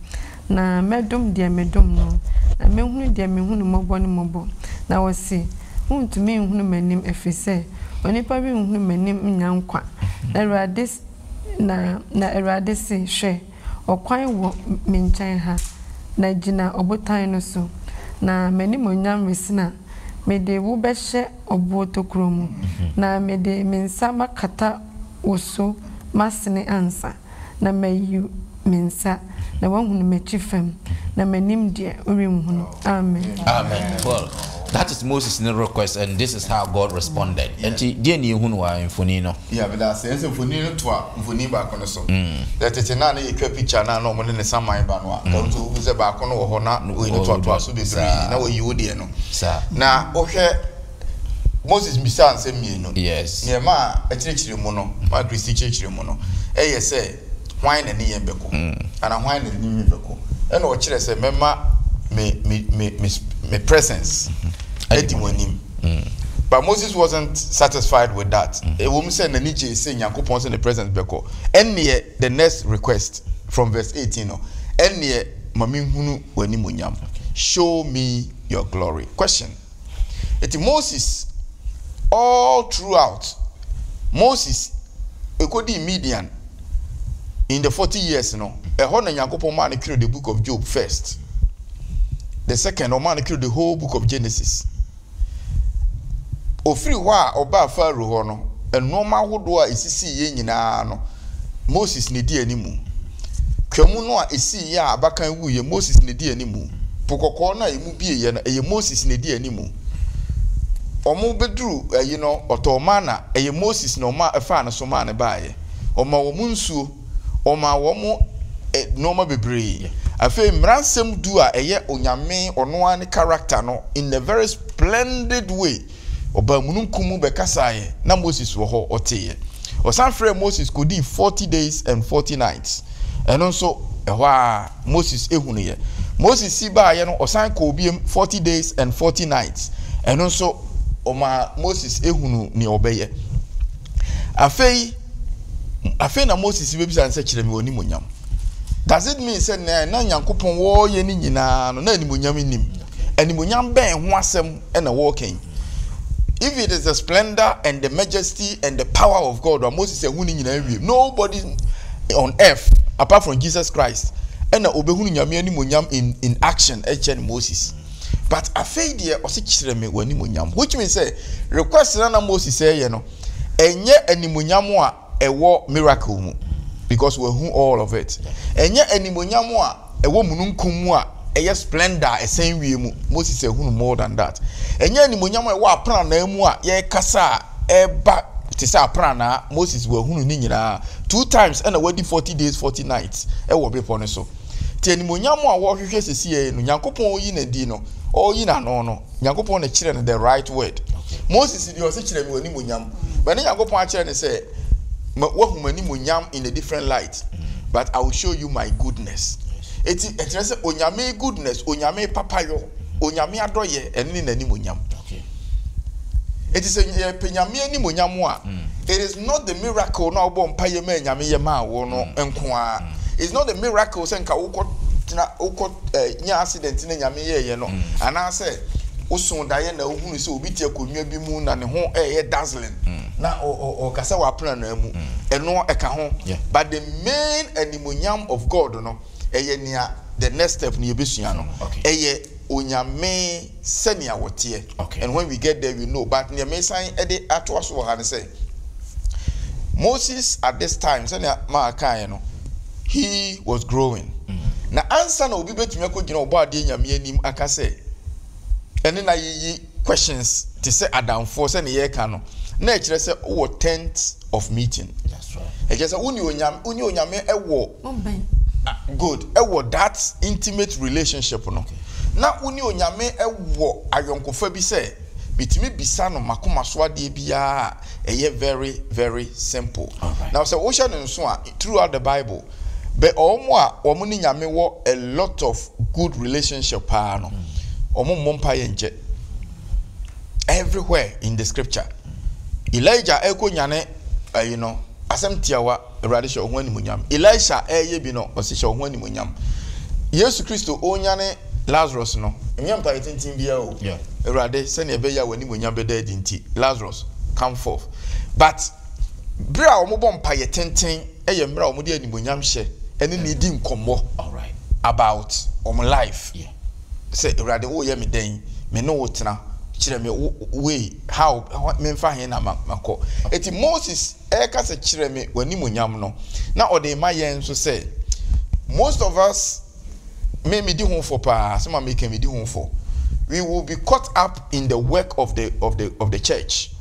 na mɛdom deɛ medom no na mɛhunu deɛ mehunu mmɔbɔ no mmɔbɔ na ɔse wontumi nhunu m'anim ɛfiri sɛ onipa renhunu m'anim nya nkwa na awurade se hwɛ Ɔkwan wɔ me nkyɛn ha, na gyina ɔbotan no so, na m'animuonyam resen a, mede wo bɛhyɛ ɔboɔ tokuro mu, na mede me nsa makata wo so masene ansa, na mayi me nsa, na woahunu m'akyi fam, na m'anim deɛ, worenhunu. Amen. Amen. Well, that is Moses' ne request and this is how God responded. Yeah. Nti, deɛ ne yɛhunu wɔ mfoni no. Yeah, but that's ɛsɛ mfoni no to a mfoni baako no so. Mm. Yɛ tete na ne yɛtwa picture na na wɔn ne ne saman ba no a. Mm. Nti wohu sɛ baako no wɔ hɔ na wɔyi no toatoa so bebree na wɔyi wo deɛ no. Saa. Na wohwɛ Moses bisaa nsɛm mmienu. Yes. Nea ɛma ɛkyerɛkyerɛ mu no, ma Kristi kyerɛkyerɛ mu no, ɛyɛ sɛ, Hwan na ɛne yɛn bɛko? Anaa Hwan na ɛne me bɛko? Ɛna ɔkyerɛ sɛ, Mɛma me, me, me, me, me presence adi mo anim. But Moses wasn't satisfied with that. Ɛwom sɛ n'ani gyee sɛ Nyankopɔn sɛ ne presence bɛkɔ. Ɛnneɛ, the next request from verse 18 no, Ɛnneɛ ma menhunu w'animuonyam. Show me your glory. Question. Enti Moses all throughout, Moses ɛkɔdii Midian in the 40 years no, ɛhɔ na Nyankopɔn maa no twerɛ the book of Job first. The second, ɔmaa no twerɛ the whole book of Genesis. Ɔfiri hɔ a ɔbaa Pharaoh hɔ no, nnoɔma ahodoɔ a ɛsisiiɛ nyinaa no, Moses na ɛdi animu. Twam no a ɛsiiɛ a abakan wuiɛ, Moses na ɛdi animu. Po kɔkɔɔ no a ɛmu ɛbieɛ no ɛyɛ Moses na ɛdi animu wɔn bɛduru ayi no ɔtɔɔ manna ɛyɛ Moses na ɔma ɛfaa no so maa no baeɛ ɔma wɔn nsuo ɔma wɔn nnoɔma bebree afei mmaransɛm du a ɛyɛ Onyame ɔno ara ne character no in a very splendid way. Ɔbaa mununkum mu bɛkasaeɛ, na Moses wɔ hɔ, ɔteeɛ. Ɔsan frɛɛ Moses kɔdii forty days and forty nights. Ɛno nso, ɛhɔ ara Moses hunuiɛ. Moses si baeɛ no, ɔsan kɔɔ biom forty days and forty nights. Ɛno nso, ɔmaa Moses hunu nea ɔbɛyɛ. Afei, afei na Moses bɛbisa no sɛ, kyerɛ me w'animuonyam. Does it mean sɛ nea na Nyankopɔn wɔyɛ no nyinaa no, na animuonyam nnim? Animuonyam bɛn ho asɛm na wɔreka yi. If it is the splendor and the majesty and the power of God, a Moses ehun ne nyinaa wie. Nobody on earth apart from Jesus Christ na obehunu nyame animonyam in in action ɛkyɛ ne moses but afei deɛ ɔse kyerɛ me w'animonyam which means sɛ request na na moses ɛyɛ no ɛnyɛ animonyam a ɛwɔ miracle mu because wahu all of it ɛnyɛ animonyam a ɛwɔ mununkum mu a ɛyɛ splendor a ɛsɛn wie mu moses ahunu more than that ɛnyɛ animonyam a ɛwɔ apranaa mu a yɛkasa a ɛba te sɛ apranaa moses wahunu ne nyinaa two times ɛna wadi forty days forty nights ɛwɔ bepɔ no so te animonyam a wɔhwehwɛ sisi yɛ no nyankopɔn yi na di no ɔyi n'ano no Nyankopɔn na kyerɛ no the right word. Moses deɛ ɔse kyerɛ me w'animuonyam. But ne Nyankopɔn akyerɛ ne sɛ wahu m'animuonyam in a different light. But I will show you my goodness. Eti ɛkyerɛ sɛ onyame goodness, onyame papayɔ, onyame adɔyɛ ɛne ne n'animuonyam. Eti sɛ yɛpɛ nyame animuonyam a, hmm. it is not the miracle na ɔbɔ mpaeɛ ma nyame yɛ maa wo no hmm. nko ara. It's not a miracle sɛ nka wokɔ tena wokɔ eh, nya accident na nyame yɛɛyɛ no mm. anaasɛ woso daeɛ na wohunu sɛ obi te akonnwa bi mu na ne ho ɛyɛ dazzling mm. na ɔka sɛ wapena no amu mm. ɛno ɛka ho but the main animonyam of God no ɛyɛ nea the next step no yɛbɛsua no ɛyɛ onyame sɛnea wɔteɛ and when we get there we know but nea mesan ɛde atoa so wɔ ha no sɛ Moses at this time sɛnea maa kaeɛ no he was growing na ansa na obi bɛtumi akɔgyina ɔbɔ adeɛ nyame anim aka sɛ ɛne na yiyi questions te sɛ adamfoɔ sɛnea yɛreka no na ɛkyerɛ sɛ wowɔ tent of meeting ɛkyerɛ sɛ wone onyame wone onyame ɛwɔ good ɛwɔ that intimate relationship no na wone onyame ɛwɔ ayɔnkofa bi sɛ metumi bisa no makoma so adeɛ biara a ɛyɛ very very simple na sɛ wohyɛ no nso a throughout the bible bɛ ɔwɔ mo a wɔn ne nyame wɔ a lot of good relationship paa no wɔn mmɔ mpa yɛ nkyɛ everywhere in the scripture elijah ɛkɔ nyane ɛyi no asɛm tiawa Awurade hyɛ wo ho animuonyam. Elisha reyɛ bi no ɔse hyɛ wo ho animuonyam. Yesu Kristo ɔrenyane Lazarus no. Ɛnyɛ mpaeɛ tenten biara o. Awurade sɛdeɛ ɛbɛyɛ a w'animuonyam bɛda adi nti Lazarus come forth. But berɛ a wɔbɔ mpaeɛ tenten yɛ mmerɛ a wɔde animuonyam hyɛ ɛne no di nkɔmmɔ about wɔn life. Sɛ Awurade woreyɛ me dɛn? Me ne wo tena. Kyerɛ me way how menfa he na makɔ. Ɛti Moses ɛrekasa kyerɛ me w'animuonyam no na ɔde ma yɛn nso sɛ most of us me medi ho fɔ paa sɛ ma meka medi ho fɔ we will be caught up in the work of the of the of the church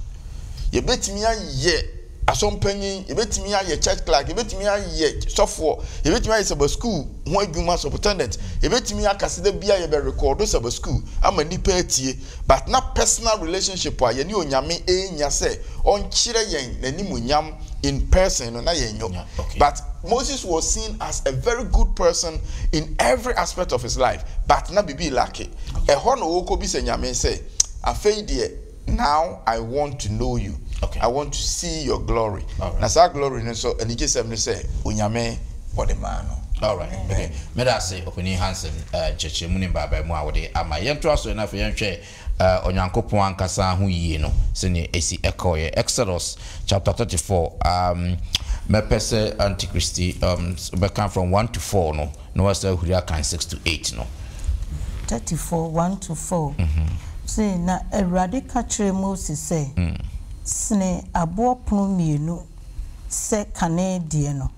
yɛbɛtumi ayɛ asɔmpanyin yɛbɛtumi ayɛ church clerk yɛbɛtumi ayɛ sɔfoɔ yɛbɛtumi ayɛ saba school ho adwuma superintendent yɛbɛtumi akaseda bia yɛbɛ rekɔdo saba school ama nipa atie but na personal relationship a yɛne Onyame renya sɛ ɔnkyerɛ yɛn n'animuonyam in person no na yɛnnyɔ. But Moses was seen as a very good person in every aspect of his life but na biribi relacke. Ɛhɔ na ɔrekɔbisa Nyame sɛ, afei deɛ now I want to know you, I want to see your glory. Na saa glory no nso anigyesɛm ne sɛ Onyame. wɔde maa no. Alright, okay. Meda ase Ɔpanin Hansen nkyerɛkyerɛmu ne mpaebaamu a wode ama yɛn. Yɛntoa so na afei yɛnhwɛ Onyankopɔn ankasa ho yie no sɛdeɛ ɛsi kɔeɛ. Exodus chapter 34, um, mɛpɛ sɛ Antikristi um, bɛka from 1 to 4 no na wasa ahuri akan 6 to 8 no. 34, 1 to 4. Mm -hmm. Sei, na Awurade ka kyerɛɛ Mose sɛ, mm. Sene aboɔ pono mmienu sɛ kane deɛ no,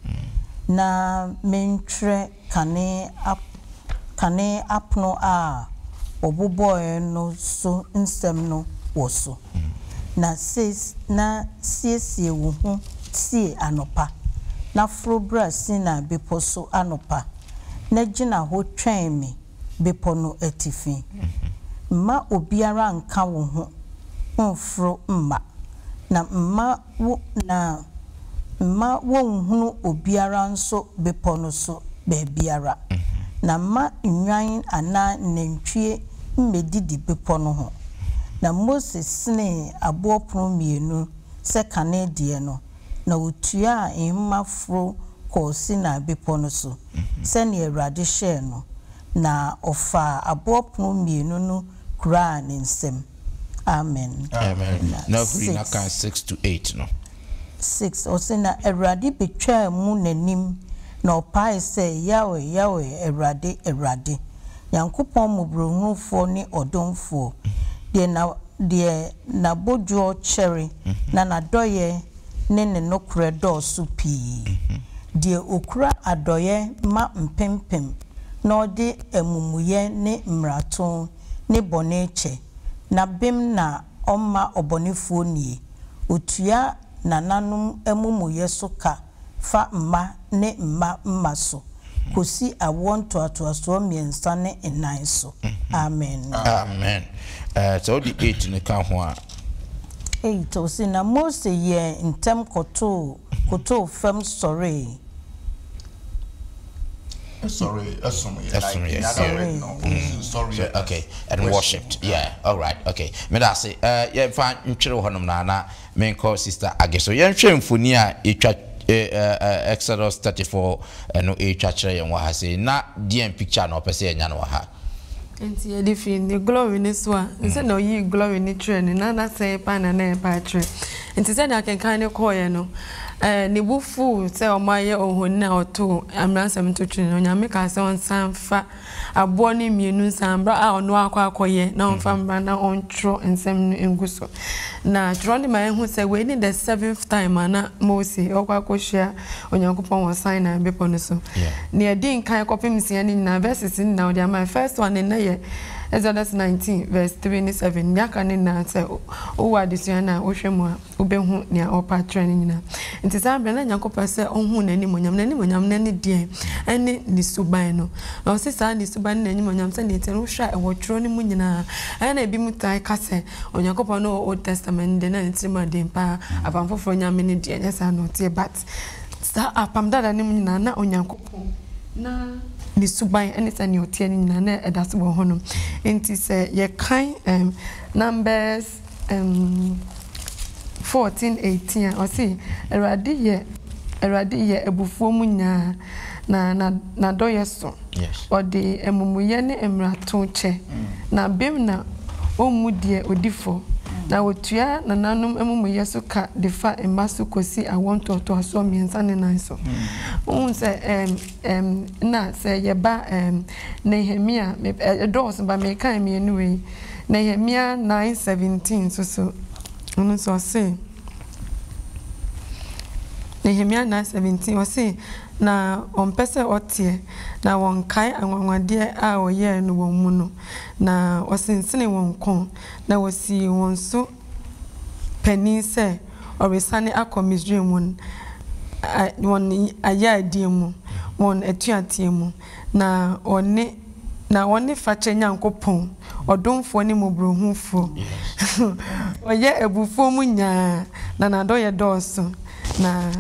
na mentwerɛ kane ap kane apono a wɔbobɔeɛ no so nsɛm no wɔ so. Na seis na siesie wo ho sie anɔpa, na foro bra Sinai Bepɔ so anɔpa, na gyina hɔ twɛn me, bepɔ no atifi. Mma obiara nnka wo ho mmforo mma, na mma wo na mma wonnhunu obiara nso bepɔ no so baabiara, na mma nnwan anaa nnantwie mmedidi bepɔ no ho. Na Mose senee aboɔ pono mmienu sɛ kane deɛ no, na wotuaa nhoma foro kɔɔ Sinai Bepɔ no so, sɛnea Awurade hyɛɛ no, na ɔfaa aboɔ pono mmienu no kuraa ne nsam. Amen. Amen. Na Na huri na six. kan six to eight no. 6 ɔse na Awurade betwaa mu n'anim na ɔpaee sɛ, Yahweh, Yahweh, Awurade, Awurade, Nyankopɔn mmɔborɔhunufoɔ ne ɔdomfoɔ, deɛ na, deɛ N'abodwoɔ kyɛre na N'adɔeɛ ne Ne nokorɛ dɔɔso pii, deɛ Ɔkura adɔeɛ ma mpempem na Ɔde amumuyɛ ne mmarato ne bɔne kyɛ, na bem na Ɔmma ɔbɔnefoɔ nnie, Ɔtua nananom amumuyɛ so ka, fa mma ne mma mma so kɔsi awoɔ ntoatoasoɔ mmiɛnsa ne nnan so. Amen. Amen. Ɛɛ, sɛ wode eight no ka ho a. Eight, ɔse, Na Mose yɛɛ ntɛm kɔtoo, kotoo fam sɔree. Sorry, ɛsom yɛ like in the other word no ɔnsi sorry yɛ okay and worshipped yeah alright okay meda ase ɛɛ yɛmfa ntwere hɔnom na na Menkɔ Sister Age so. Yɛnhwɛ mfoni a yɛtwa eh, Exodus thirty four no retwa kyerɛ yɛn wɔ ha sei. Na deɛn picture na ɔpɛ sɛ yɛnya no wɔ ha? Nti yɛde fi ne glory no so a, ne sɛdeɛ ɔyii glory no kyerɛ no, na n'asɛe paa na na ɛreba akyerɛ. Nti sɛdeɛ akenkan no kɔɔeɛ no, eh, ne bo fuu sɛ wɔayɛ ohoni a ɔtoo mmaransɛm to twene no. Onyame kaa sɛ ɔnsan mfa aboɔ no mmienu nsa berɛ a ɔno akɔ akɔyɛ na ɔmfa mmra na ɔntwerɛ nsɛm no ngu so. Na twerɛ no ma yɛhu sɛ wei ne the seventh time a na Mose ɔkɔ akɔhyia Onyankopɔn wɔ Sinai bepɔ no so. Deɛ ɛdi nkan kɔpem nsia no nyinaa verses no nyinaa ɔde ama yɛ. First one no nnɛ yɛ Exodus nineteen verse three ne seven. Deɛ aka no nyinaa sɛ wowɔ adesua no a wohwɛ mu a. Wobɛhu nea ɔrepɛ akyerɛ no nyinaa. Enti saa berɛ no, na Nyankopɔn pɛ sɛ ɔhu n'animuonyam. N'animuonyam no ne deɛn? Ɛne Ne suban no. Na ɔse saa Ne suban ne n'animuonyam, sɛdeɛ ɛteɛ no, wohwɛ a ɛwɔ twerɛ no mu nyinaa. Ɛyɛ a na ebinom tae ka sɛ, Onyankopɔn ne Old Testament no deɛ, na ne tiri mu yɛ den pa ara. Apam Foforɔ Nyame no deɛ, ɛnyɛ saa na ɔteɛ. But saa Apam Dada no mu nyinaa, na Onyankopɔn, na Ne suban, ne sɛdeɛ ɔteɛ no nyinaa, na ɛda so wɔ hɔnom. Enti sɛ yɛkan ɛɛm Numbers. fourteen eighteen a, ɔse, Awurade yɛ Awurade yɛ abufuo mu nyaa, na na n'adɔeɛ so. Yes. Ɔde amumuyɛ ne mmarato kyɛ, mm. na bem na ɔmmu deɛ ɔdi fɔ, mm. na ɔtua nananom amumuyɛ so ka de fa mma so kɔsi awoɔ ntoatoasoɔ mmiɛnsa ne nan so. Mm. Wohu sɛ Ɛm, na sɛ yɛba, ɛm, Nehemia, me, ɛ, ɛdɔɔso, but mekan mmienu wei, Nehemia nine seventeen nso so, ɔno nso ɔse, Nehemia nine seventeen, ɔse, Na wɔmpɛ sɛ wɔteɛ, na wɔnkae anwanwadeɛ a wɔyɛɛ no wɔn mu no, na wɔsensenee wɔn kɔn, na wɔsii wɔn so panyin sɛ ɔresane akɔ Misraim wɔn wɔn ayayadie mu, wɔn atuateɛ mu, na ɔne na ɔne fakyɛ Nyankopɔn, ɔdomfoɔ ne mmɔborɔhunufoɔ. Ɔyɛ abufuo mu nyaa, na n'adɔeɛ dɔɔso, na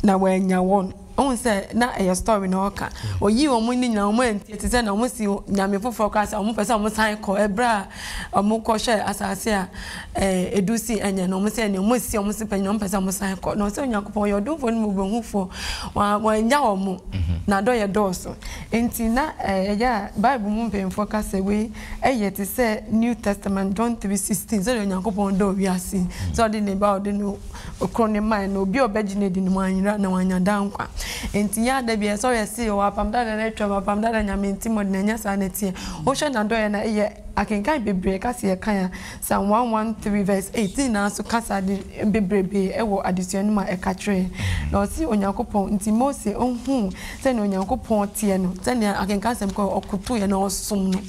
na wannya wɔn. Wohu sɛ na ɛyɛ story na ɔka. Oyii wɔn no nyinaa wɔn antie te sɛ na wɔn si nyame foforɔ koraa sɛ wɔn pɛ sɛ wɔn san kɔ ɛberɛ a wɔn kɔ hwɛ asase a ɛɛ edu si ɛnyɛ na wɔn sɛ ɛnyɛ wɔn si wɔn si pɛ nyina wɔn pɛ sɛ wɔn san kɔ na ɔsɛ Onyankopɔn ɔyɛ ɔdomfoɔ ne mmɔbɔhufoɔ wɔn wɔn anya wɔn mhm. na adɔ yɛ dɔɔso nti na ɛyɛ eh, a Bible mu mpanyinfoɔ ka sɛ wei ɛyɛ te sɛ New Testament John three sixteen sɛ Onyankopɔn dɔ wiase sɛ ɔde ne ba ɔde no Koro ne mmae no, obi a ɔbɛgye no adi no, wanyera na wanya daa nkwa. Enti yɛn a da biara sɛ yɛse yɛwɔ Apam Dada no atwam, Apam Dada Nyame nti mmɔden, ɛnyɛ saa na ɛteɛ. Wohwɛ N'adɔeɛ no a, yɛ akenkan bebree ka sɛ yɛ kan a, Psalm 113 verse 8 ne nyinaa nso ka saa ade bebrebee wɔ adesua no mu a ɛka kyerɛ yɛn. Na ɔse Onyankopɔn nti Mose ohuu sɛnea Onyankopɔn teɛ no, sɛnea akenkan asɛm kɔ, ɔkotoeɛ na ɔsom no.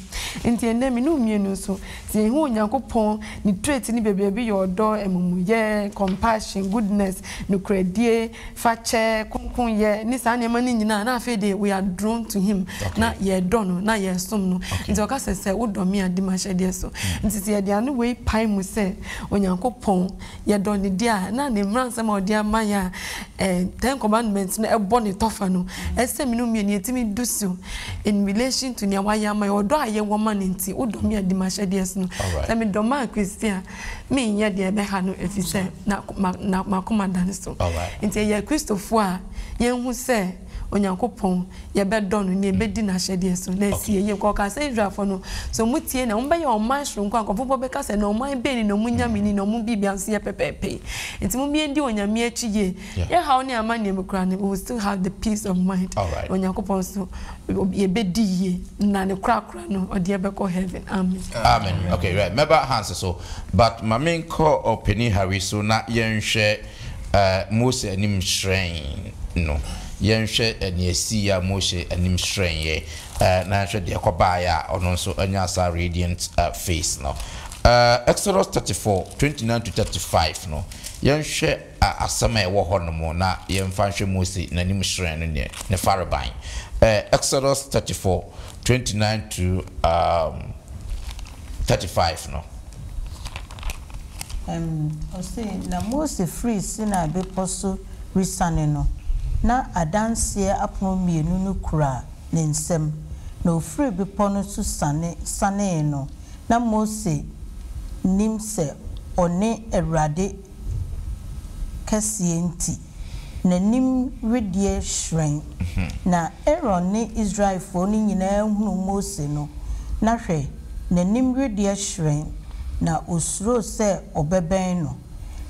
Enti ɛnnɛ me ne wo mmienu nso, Sɛ yehu Onyankopɔn, ne traits no bebree bi yɛ ɔdɔ, amumuyɛ, compassion, goodness, nokorɛdie, fakyɛ, kronkronyɛ, ne saa nneɛma no nyinaa, na afei deɛ we are drawn to him, na yɛdɔ no, na yɛsom no. Nti ɔka sɛ, sɛ wodɔ me a, di m'ahyɛdeɛ so. Nti sɛ yɛde ano wei pae mu sɛ Onyankopɔn. yɛdɔ ne di a, na ne mmaransɛm a ɔde ama yɛ a eh, ten commandments no ɛbɔ ne tɔfa no ɛsɛ mmienu mmienu yɛtumi du so in relation to nea wayɛ ama yɛ ɔdɔ a yɛwɔ ma no nti wodɔ me a di m'ahyɛdeɛ so no sɛ medɔ ma a kristi a menyɛ deɛ ɛbɛha no ɛfiri sɛ makoma da no so nti ɛyɛ kristofoɔ a yɛhu sɛ Onyankopɔn, yɛbɛdɔ no, na yɛbɛdi n'ahyɛdeɛ so, na asi yɛn yie. Kɔ ka sɛ Israelfoɔ no, sɛ wɔtie na wɔbɛyɛ ɔman sononko a, nkurɔfoɔ bɔ bɛka sɛ, 'Na ɔman bɛn ni na wɔn nyame ni, na wɔn biribiara nso yɛ pɛpɛɛpɛ yi? Enti momma yɛndi Onyame akyi yie. Yɛn haw ne amanneɛ mu koraa no, we will still have the peace of mind. Na Onyankopɔn nso, yɛbɛdi yie, na ne korakora no, ɔde yɛn bɛkɔ heaven. Amen. Amen. Okay, right. Mɛba Hans so, but ma menkɔ Ɔpanin Harry so na yɛnhwɛ A Mose anim hyerɛn no. Yɛnhwɛ nea esii a Mose anim hyerɛnee, na yɛnhwɛ deɛ ɛkɔbaeɛ a ɔno nso nyaa saa radiant face no. Exodus thirty four, twenty nine to thirty five no, yɛnhwɛ asɛm a ɛwɔ hɔnom na yɛmfa nhwɛ Mose n'anim hyerɛn no ne ne farebae. Exodus thirty four, twenty nine to thirty five no. Ɛnn, ɔse, Na Mose firi Sinai Bepɔ so resiane no, na Adanseɛ apono mmienu no kura ne nsam, na ɔfiri bepɔ no so siane sianee no, na Mose nim sɛ ɔne Awurade kɛseɛ nti. n'anim wedeɛ hyerɛn. Na Aaron ne Israelfoɔ no nyinaa hunuu Mose no, na hwɛ, n'anim wedeɛ hyerɛn, na ɔsuroo sɛ ɔbɛbɛn no.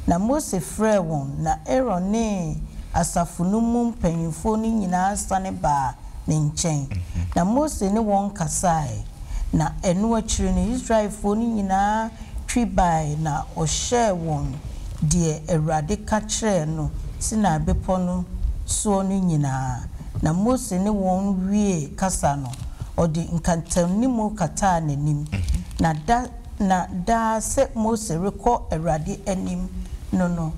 Na Mose frɛɛ wɔn, na Aaron ne asafo no mu mpanimfoɔ no nyinaa sane baa ne nkyɛn, na Mose ne wɔn kasae, na ɛno akyiri no Israelfoɔ no nyinaa twi bae na ɔhyɛɛ wɔn deɛ Awurade ka kyerɛɛ no Sinai Bepɔ no soɔ no nyinaa, na Mose ne wɔn wiee kasa no, ɔde nkantamnimu kataa n'anim, na da na daa sɛ Mose rekɔ Awurade anim no no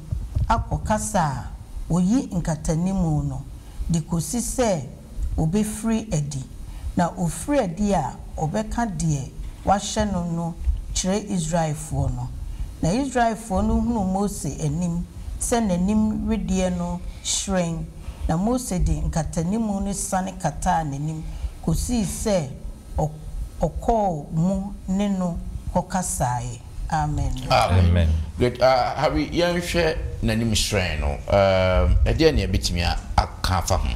akɔ kasa a ɔyi nkatanimu no, de kɔsi sɛ ɔbɛfiri adi, na ɔfiri adi a, ɔbɛka deɛ wɔahyɛ no no kyerɛ Israelfoɔ no. Na Israelfoɔ no hunuu Mose anim sɛ n'anim wedeɛ no hyerɛn, na Mose de nkatanimu no sane kataa n'anim kɔsii sɛ ɔkɔɔ mu ne no kɔkasaaeɛ. Amen. Amen. Good. Uh, Harry, yɛnhwɛ n'anim hyerɛn no. Um, ɛdeɛ ne ɛbɛtumi aka afa ho.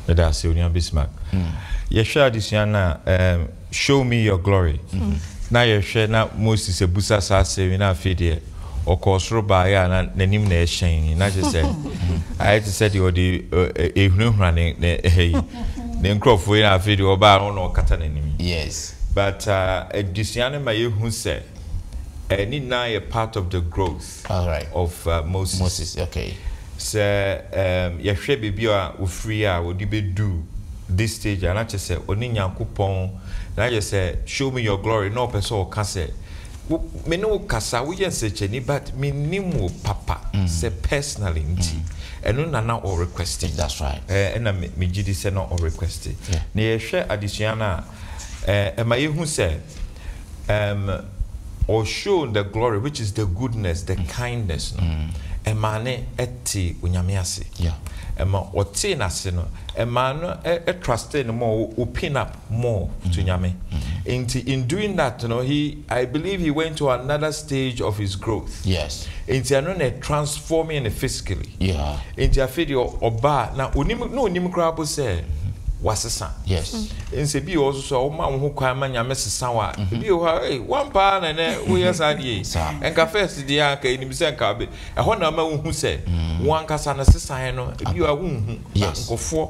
Ɛda ase onua Bismark. Hmm. Yɛhwɛ adesua no a, um, show me your glory. Hmm. Na yɛhwɛ na Moses abusa saa asɛm na afei deɛ ɔkɔɔ soro baeɛ a na n'anim na ɛhyɛn na kyɛ sɛ hmm. ayɛ te sɛ deɛ ɔde ɛhunahuna eh, eh, ne ɛha yi ne nkurɔfoɔ yi na afei deɛ ɔbaa no na ɔkata n'anim. Yes. But adesua no ma yɛhu sɛ ne nyinaa yɛ part of the growth of Moses. Sɛ yɛhwɛ baabi a ɔfiri a ɔde bɛdu this stage a, na kyerɛ sɛ ɔne Nyankopɔn, na yɛ sɛ show me your glory, na ɔpɛ sɛ ɔka sɛ me ne wo kasa, woyɛ nsɛkyɛni but mennim wo papa sɛ personally nti ɛno na na ɔrequesti. Ɛna megye di sɛ na ɔrequesti. Na yɛhwɛ adesua no a, ɛma yɛhu sɛ um, or show the glory which is the goodness the kindness no mm. ɛmaa ne ɛte onyame ase ɛma ɔtee n'ase no ɛmaa no ɛtraste no more open up more to mm. nyame mm. nti in doing that no he I believe he went to another stage of his growth Yes. nti ɛno na ɛ transforming no physically Yeah. nti afei deɛ ɔba a na onim na onim koraa po sɛ wasesa Yes. nsɛ bi wɔ hɔ so so a woma wo ho kwan ma nyame sesa wo a ebi wɔ hɔ a ei woampa ara na ɛnɛ woyɛ saa deɛ yi Saa. ɛnka first deɛ a anka ɛnim sɛ anka be ɛhɔ na ama wohu sɛ wo ankasa no sesaeɛ no ebi wɔ hɔ a wonhu Yes. nkurɔfoɔ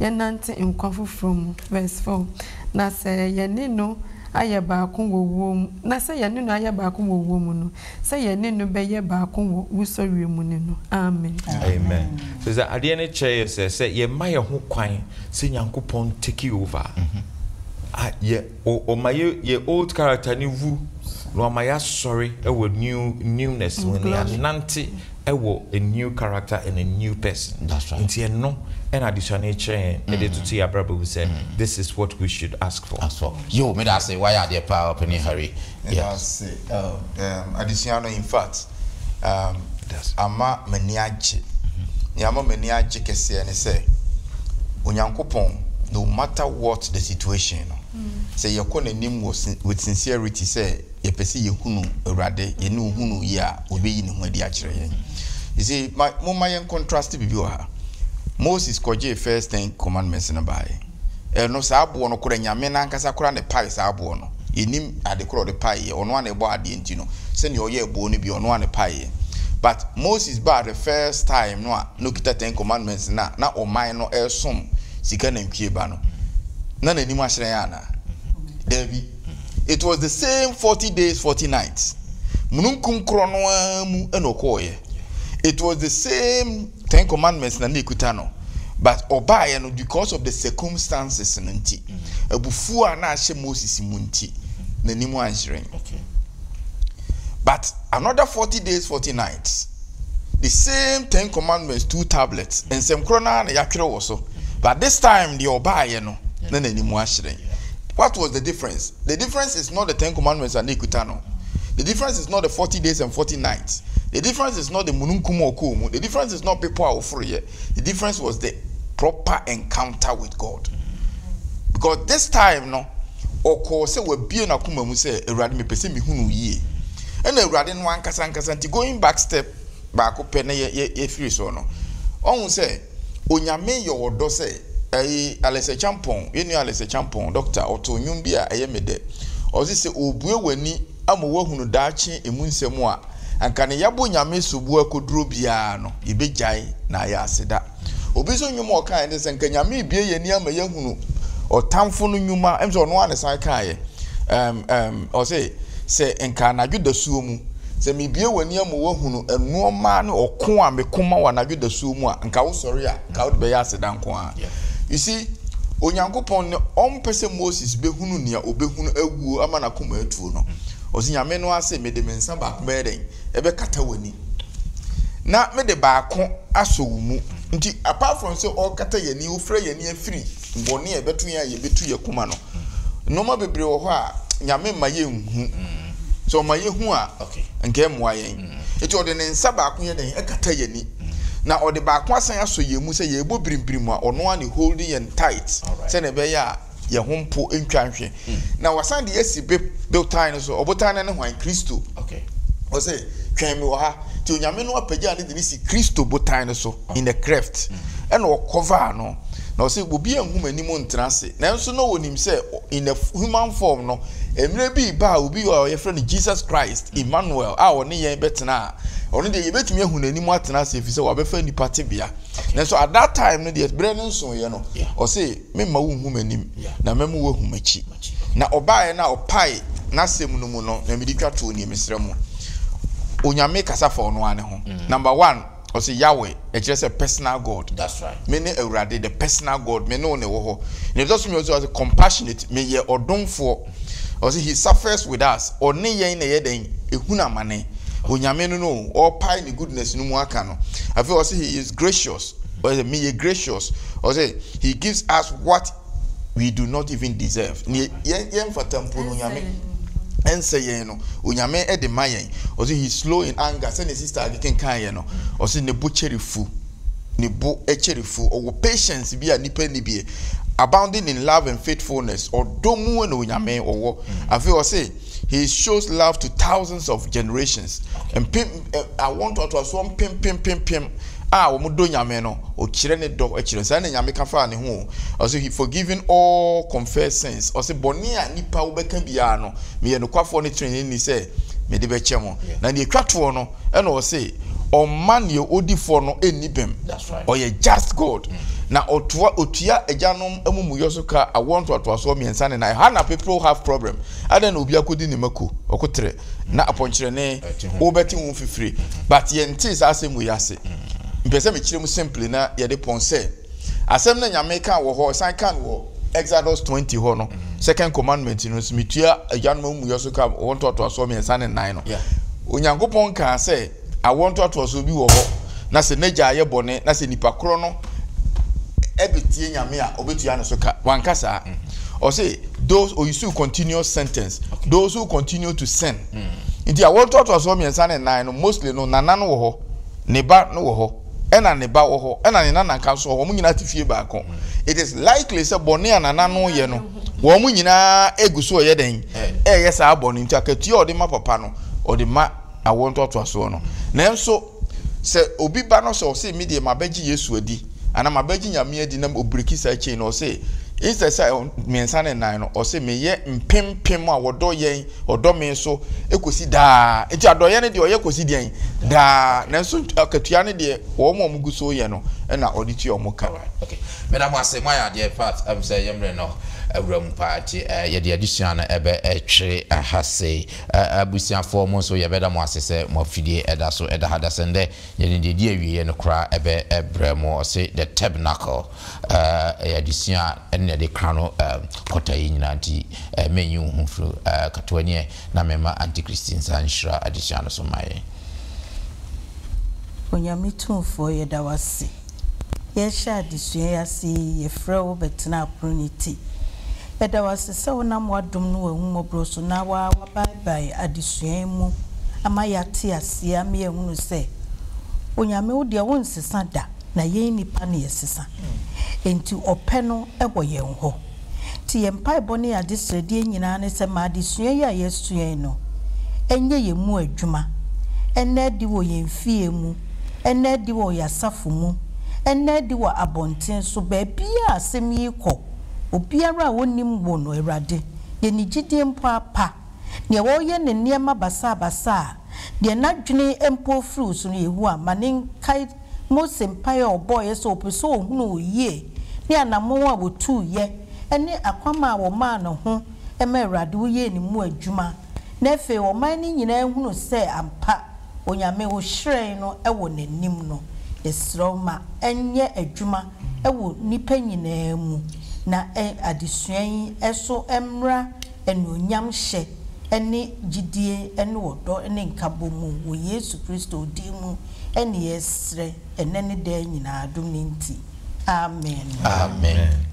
yɛnnante nkwa foforɔ mu. Verse four, Na sɛ yɛne no ayɛ baako wɔ wuo mu, na sɛ yɛne no ayɛ baako wɔ wuo mu no, sɛ yɛne no bɛyɛ baako wɔ wusɔreɛ mu ne no. Amen. Amen. So sɛ adeɛ no kyerɛ yɛ sɛ sɛ yɛma yɛn ho kwan sɛ Nyankopɔn take over a, yɛ. O ɔma yɛ yɛ old character no wu na wama yɛasɔre wɔ new newness mu na yɛanante wɔ a new character and a new person nti ɛno ɛna adesua no rekyerɛ yɛn ɛde mm. toto yɛ abrabɔ mu sɛ mm. this is what we should ask for. Ask for. Yo, meda ase wayɛ adeɛ paa ɔpɛni Harry Ɛda ase um, adesua no in fact um, ama m'ani agye. Nea ama m'ani agye kɛseɛ ne sɛ Onyankopɔn, no matter what the situation no, sɛ yɛkɔ n'anim wɔ with sincerity sɛ yɛpɛ sɛ yɛhunu Awurade, yɛne ohunu yie a, ɔbɛyi ne ho adi akyerɛ yɛn. You see, ma, momma yɛn contrast biribi wɔ ha. Moses kɔgyee first ten commandments no baeɛ. Ɛno, saa aboɔ no korɛ, Nyame no ankasa koraa na ɛpaee saa aboɔ no. Yɛnnim ade korɔ a ɔde paeeɛ. Ɔno ara na ɛbɔɔ adeɛ nti no, sɛdeɛ ɔyɛɛ boɔ no bi, ɔno ara na ɛpaeeɛ. But Moses baa the first time no a na ɔkita Ten Commandments no a na ɔman no resom sika nantwie ba no, na n'anim ahyerɛn anaa? Daabi. It was the same forty days, forty nights. Mununkum korɔ no ara mu na ɔkɔɔeɛ. It was the same. Ten commandments na na ekuta no but ɔbaeɛ no because of the circumstances no nti abufuo a na ahyɛ Moses mu nti n'anim anhyerɛn but another forty days forty nights the same ten commandments two tablets nsɛm korɔ no ara na yɛatwerɛ wɔ so but this time deɛ ɔbaeɛ no na n'anim ahyerɛn What was the difference? The difference is not the ten commandments a na ɛkuta no. The difference is not the forty days and forty nights. The difference is not the mununkum a ɔkɔɔ mu. The difference is not bepɔ a ɔforoeɛ. The difference was the proper encounter with God. Because this time no, ɔkɔɔ sɛ wabie n'akoma mu sɛ, Awurade, mepɛ sɛ mehunu wo yie. Ɛna Awurade no ankasa ankasa nti, going back step baako pɛ na yɛfiri soɔ no, ɔhu sɛ, Onyame yɔ wɔ dɔ sɛ ɛyi Alice Acheampong, yɛn nua Alice Acheampong, Doctor, ɔtoo nnwom bi a ɛyɛ me dɛ. Ɔse sɛ ɔrebue w'ani ama woahunu daakye emu nsɛm a, anka ne yɛabɔ Nyame sobo akɔduro biara no, yɛbɛgyae na ayɛ aseda. Obi nso nnwom a ɔkaeɛ ne sɛ anka Nyame rebue yɛn ani ama yɛahunu ɔtamfo no nnwuma, ɛm sɛ ɔno ara na ɛsan kaeɛ, ɛm, ɛm, ɔse sɛ anka anadwo dasuo mu, Sɛ mebue w'ani ama woahunu nnoɔma ne ɔko a meko ma wo anadwo dasuo mu a, nka wosɔre a, nka wode bɛyɛ aseda nko ara. You see, Onyankopɔn no, ɔmpɛ sɛ Moses bɛhunu nea ɔbɛhunu awuo ama n'akoma atuo no. Ɔse, Nyame no ara se, mede me nsa baako bɛyɛ dɛn? Ɛbɛkata w'ani. Na mede baako asɔ wo mu. Nti, apart from sɛ ɔrekata yɛn ani, ɔrefira yɛn ani afiri bɔne a ɛbɛto yɛn a yɛbɛtu yɛn koma no, Nnoɔma bebree wɔ hɔ a Nyame mma yɛnhu. Sɛ ɔma yɛhu a, nka ɛmmoa yɛn. Nti ɔde ne nsa baako yɛ dɛn? Ɛkata yɛn ani. Na ɔde baako asan asɔ yɛn mu sɛ yɛrebɔ birimbirim a, ɔno ara na holding yɛn tight sɛdeɛ ɛbɛyɛ a yɛn ho mpo ntwa nhwe. Na wasan de yɛn asi botan no so. Ɔbotan no ne hwan? Kristo. Ɔse, twɛn me wɔ ha. Nti Onyame no apagya ne de no si Kristo botan no so in a cleft. Ɛna ɔkɔvaa no. Na ɔse, obiara nhu m'anim ntena ase. Nanso na wɔnim sɛ in a human form no, mmerɛ bi reba a obi a wɔfrɛ no Jesus Christ, Emmanuel, a ɔne yɛn bɛtena a, ɔno deɛ yɛbɛtumi ahu n'anim atena ase ɛfiri sɛ wabɛfa nnipa tebea. Nanso at that time no deɛ berɛ no nsoeɛ no, ɔse memma wo nhu m'anim na mɛmo woahu m'akyi. Na ɔbaeɛ no a ɔpae n'asɛm no mu no na mede twa toɔ nie, mesrɛ mo, Onyame kasa fa ɔno ara ne ho, mm. number one. Ɔse Yahweh, ɛkyerɛ sɛ personal God. That's right. Me ne Awurade, the personal God, me ne wo na ɛwɔ hɔ. Na ɛtɔ so mmienu nso, ɔse compassionate, meyɛ ɔdomfoɔ. Ɔse he suffers with us, ɔne yɛn na ɛyɛ dɛn? Ɛhunu amane. Onyame no no, ɔrepae ne goodness no mu aka no. Afei ɔse he is gracious, ɔse meyɛ gracious. Ɔse he gives us what we do not even deserve ne yɛn yɛn fata mpo no nyame ɛnsɛ yɛn no onyame ɛde ma yɛn ɔsi he slow in anger sɛ ne sister akekenkan yɛ no ɔsi ne bo kyɛre fu ne bo ɛkyɛre fu ɔwɔ patience bi a nipa ni bi abounding in love and faithfulness ɔdɔ mu na onyame ɔwɔ afei ɔsi. He shows love to thousands of generations. Mpem eh, awo ntoatoasoɔ mpempem mpempem a wɔn dɔ nyame no, ɔkyerɛ ne dɔ kyerɛ. Saa na nyame ka faa ne ho o. Ɔsɛ he forgiving all confessed sins. Ɔsɛ bɔne a nipa wobɛka biara no, meyɛ nokwafoɔ ne trenee ni sɛ mede bɛkyɛ mo. Na deɛ ɛtwa toɔ no, ɛna ɔse ɔmma neɛ odi fɔ no nni bem ɔyɛ just God mm. na ɔtoa ɔtua agyanom amumuyɔ so ka awoɔ ntoatoasoɔ mmiɛnsa ne na ɛha na people have problem adɛn na obi akɔdi ne mako ɔkotere na apɔnkyerɛne wobɛte ho fifiri but yɛntee saa asɛm wei ase mm. mpɛ sɛ mekyerɛ mu simple na yɛde pɔn sɛ asɛm no nyame ka wɔ hɔ san ka no wɔ exodus 20 hɔ no mm. second commandment no nso metua agyanom amumuyɔ so ka wɔ ntoatoasoɔ mmiɛnsa ne nnan no onyankopɔn kaa sɛ awɔ ntoatoasoɔ bi wɔ hɔ na sɛ n'agya ayɛ bɔne na sɛ nipa korɔ no ɛbɛtie nyame a ɔbɛtua no so ka wanka saa mm. ɔse those oyisu oh, continuous sentence those who continue to sin mm. nti awɔ ntoatoasoɔ mmiɛnsa ne nnan no mostly no nana no wɔ hɔ ne ba no wɔ hɔ ɛna ne ba wɔ hɔ, ɛna ne nana ka nso wɔn nyinaa te fie baako. It is likely sɛ bɔne a nana no yɛ no, wɔn nyinaa egu so ɛyɛ dɛn? Ɛyɛ saa bɔne nti akatua a ɔde ma papa no, ɔde ma awoɔ ntoatoasoɔ no. Nanso sɛ obi ba no sɛ ɔse me deɛ mabɛgye Yesu adi, anaa mabɛgye Nyame adi na ɔbreki saa chain no, ɔse instead sɛ mmiɛnsa ne nnan no, ɔse meyɛ mpempem a wɔdɔ yɛn, Ɔdɔ me nso kɔsi daa. Nti adɔeɛ no deɛ ɔyɛ kɔsi deɛn? Daa. Nanso akatua no deɛ wɔn a wɔgu so reyɛ no na ɔde tua wɔn ka. Alright, okay. Meda mo ase, moayɛ adeɛ pa. Ɛfiri sɛ yɛn mmerɛ no awura mu paa nti yɛde adesua no bɛtwere ha sei. Abusuafoɔ mo nso yɛbɛda mo ase sɛ mo afidie da so da ha. Dasɛndɛ yɛde deɛ ɛdi awieɛ no koraa bɛbrɛ mo. Ɔse The Tabernacle. ɛyɛ adesua a ɛno na yɛde ka no quarter yi nyinaa nti mɛnyi wo ho mfiri katoa ni ɛ na mɛma Auntie Christie nsa nhyira adesua no so mma yɛn. Onyame Tumfoɔ yɛda wo ase yɛrehyɛ adesua yi ase yi yɛfrɛ wo bɛtena apono no ti yɛda wo ase sɛ wonam w'adom ne w'ahummɔborɔ so na wo ara woabaebae adesua yi mu ama yɛate aseɛ ama yɛahunu sɛ Onyame wo deɛ wonsesa da Na yɛn nnipa no yɛ sesa, enti ɔpɛ no wɔ yɛn hɔ. Nti yɛn mpaebɔ ne yɛn adesrɛdeɛ nyinaa ne sɛ ma adesua yi a yɛasua yi no nyɛ yɛn mu adwuma, ɛnna adi wɔ yɛn mfeɛ mu, ɛnna adi wɔ yɛn asafo mu, ɛnna adi wɔ abɔnten so, baabiara a asɛm yi rekɔ, obiara a ɔnnim wo no, Awurade, deɛ ne gyidie mpo apa, deɛ ɔreyɛ ne nneɛma basaabasaa, deɛ n'adwene mpo firi wo so no, Yehowa, ma ne nkae. Mose mpae a ɔbɔeɛ sɛ ɔpɛ sɛ ɔhunu wo yie ne anammɔn a wɔtuiɛ ne akwamma a wɔmaa no ho ma Awurade woyɛɛ ne mu adwuma na afei ɔman no nyinaa hunu sɛ ampa Onyame wo hyerɛn no wɔ n'anim no, yɛsrɛ wo ma ɛnyɛ adwuma wɔ nnipa nyinaa mu na adesua yi so mmra Anuonyam hyɛ ne gyidie ne ɔdɔ ne nkabɔ mu wɔ Yesu Kristo din mu ne yɛsrɛ ɛnnɛ ne daa nyinaa adom no nti. Amen. Amen.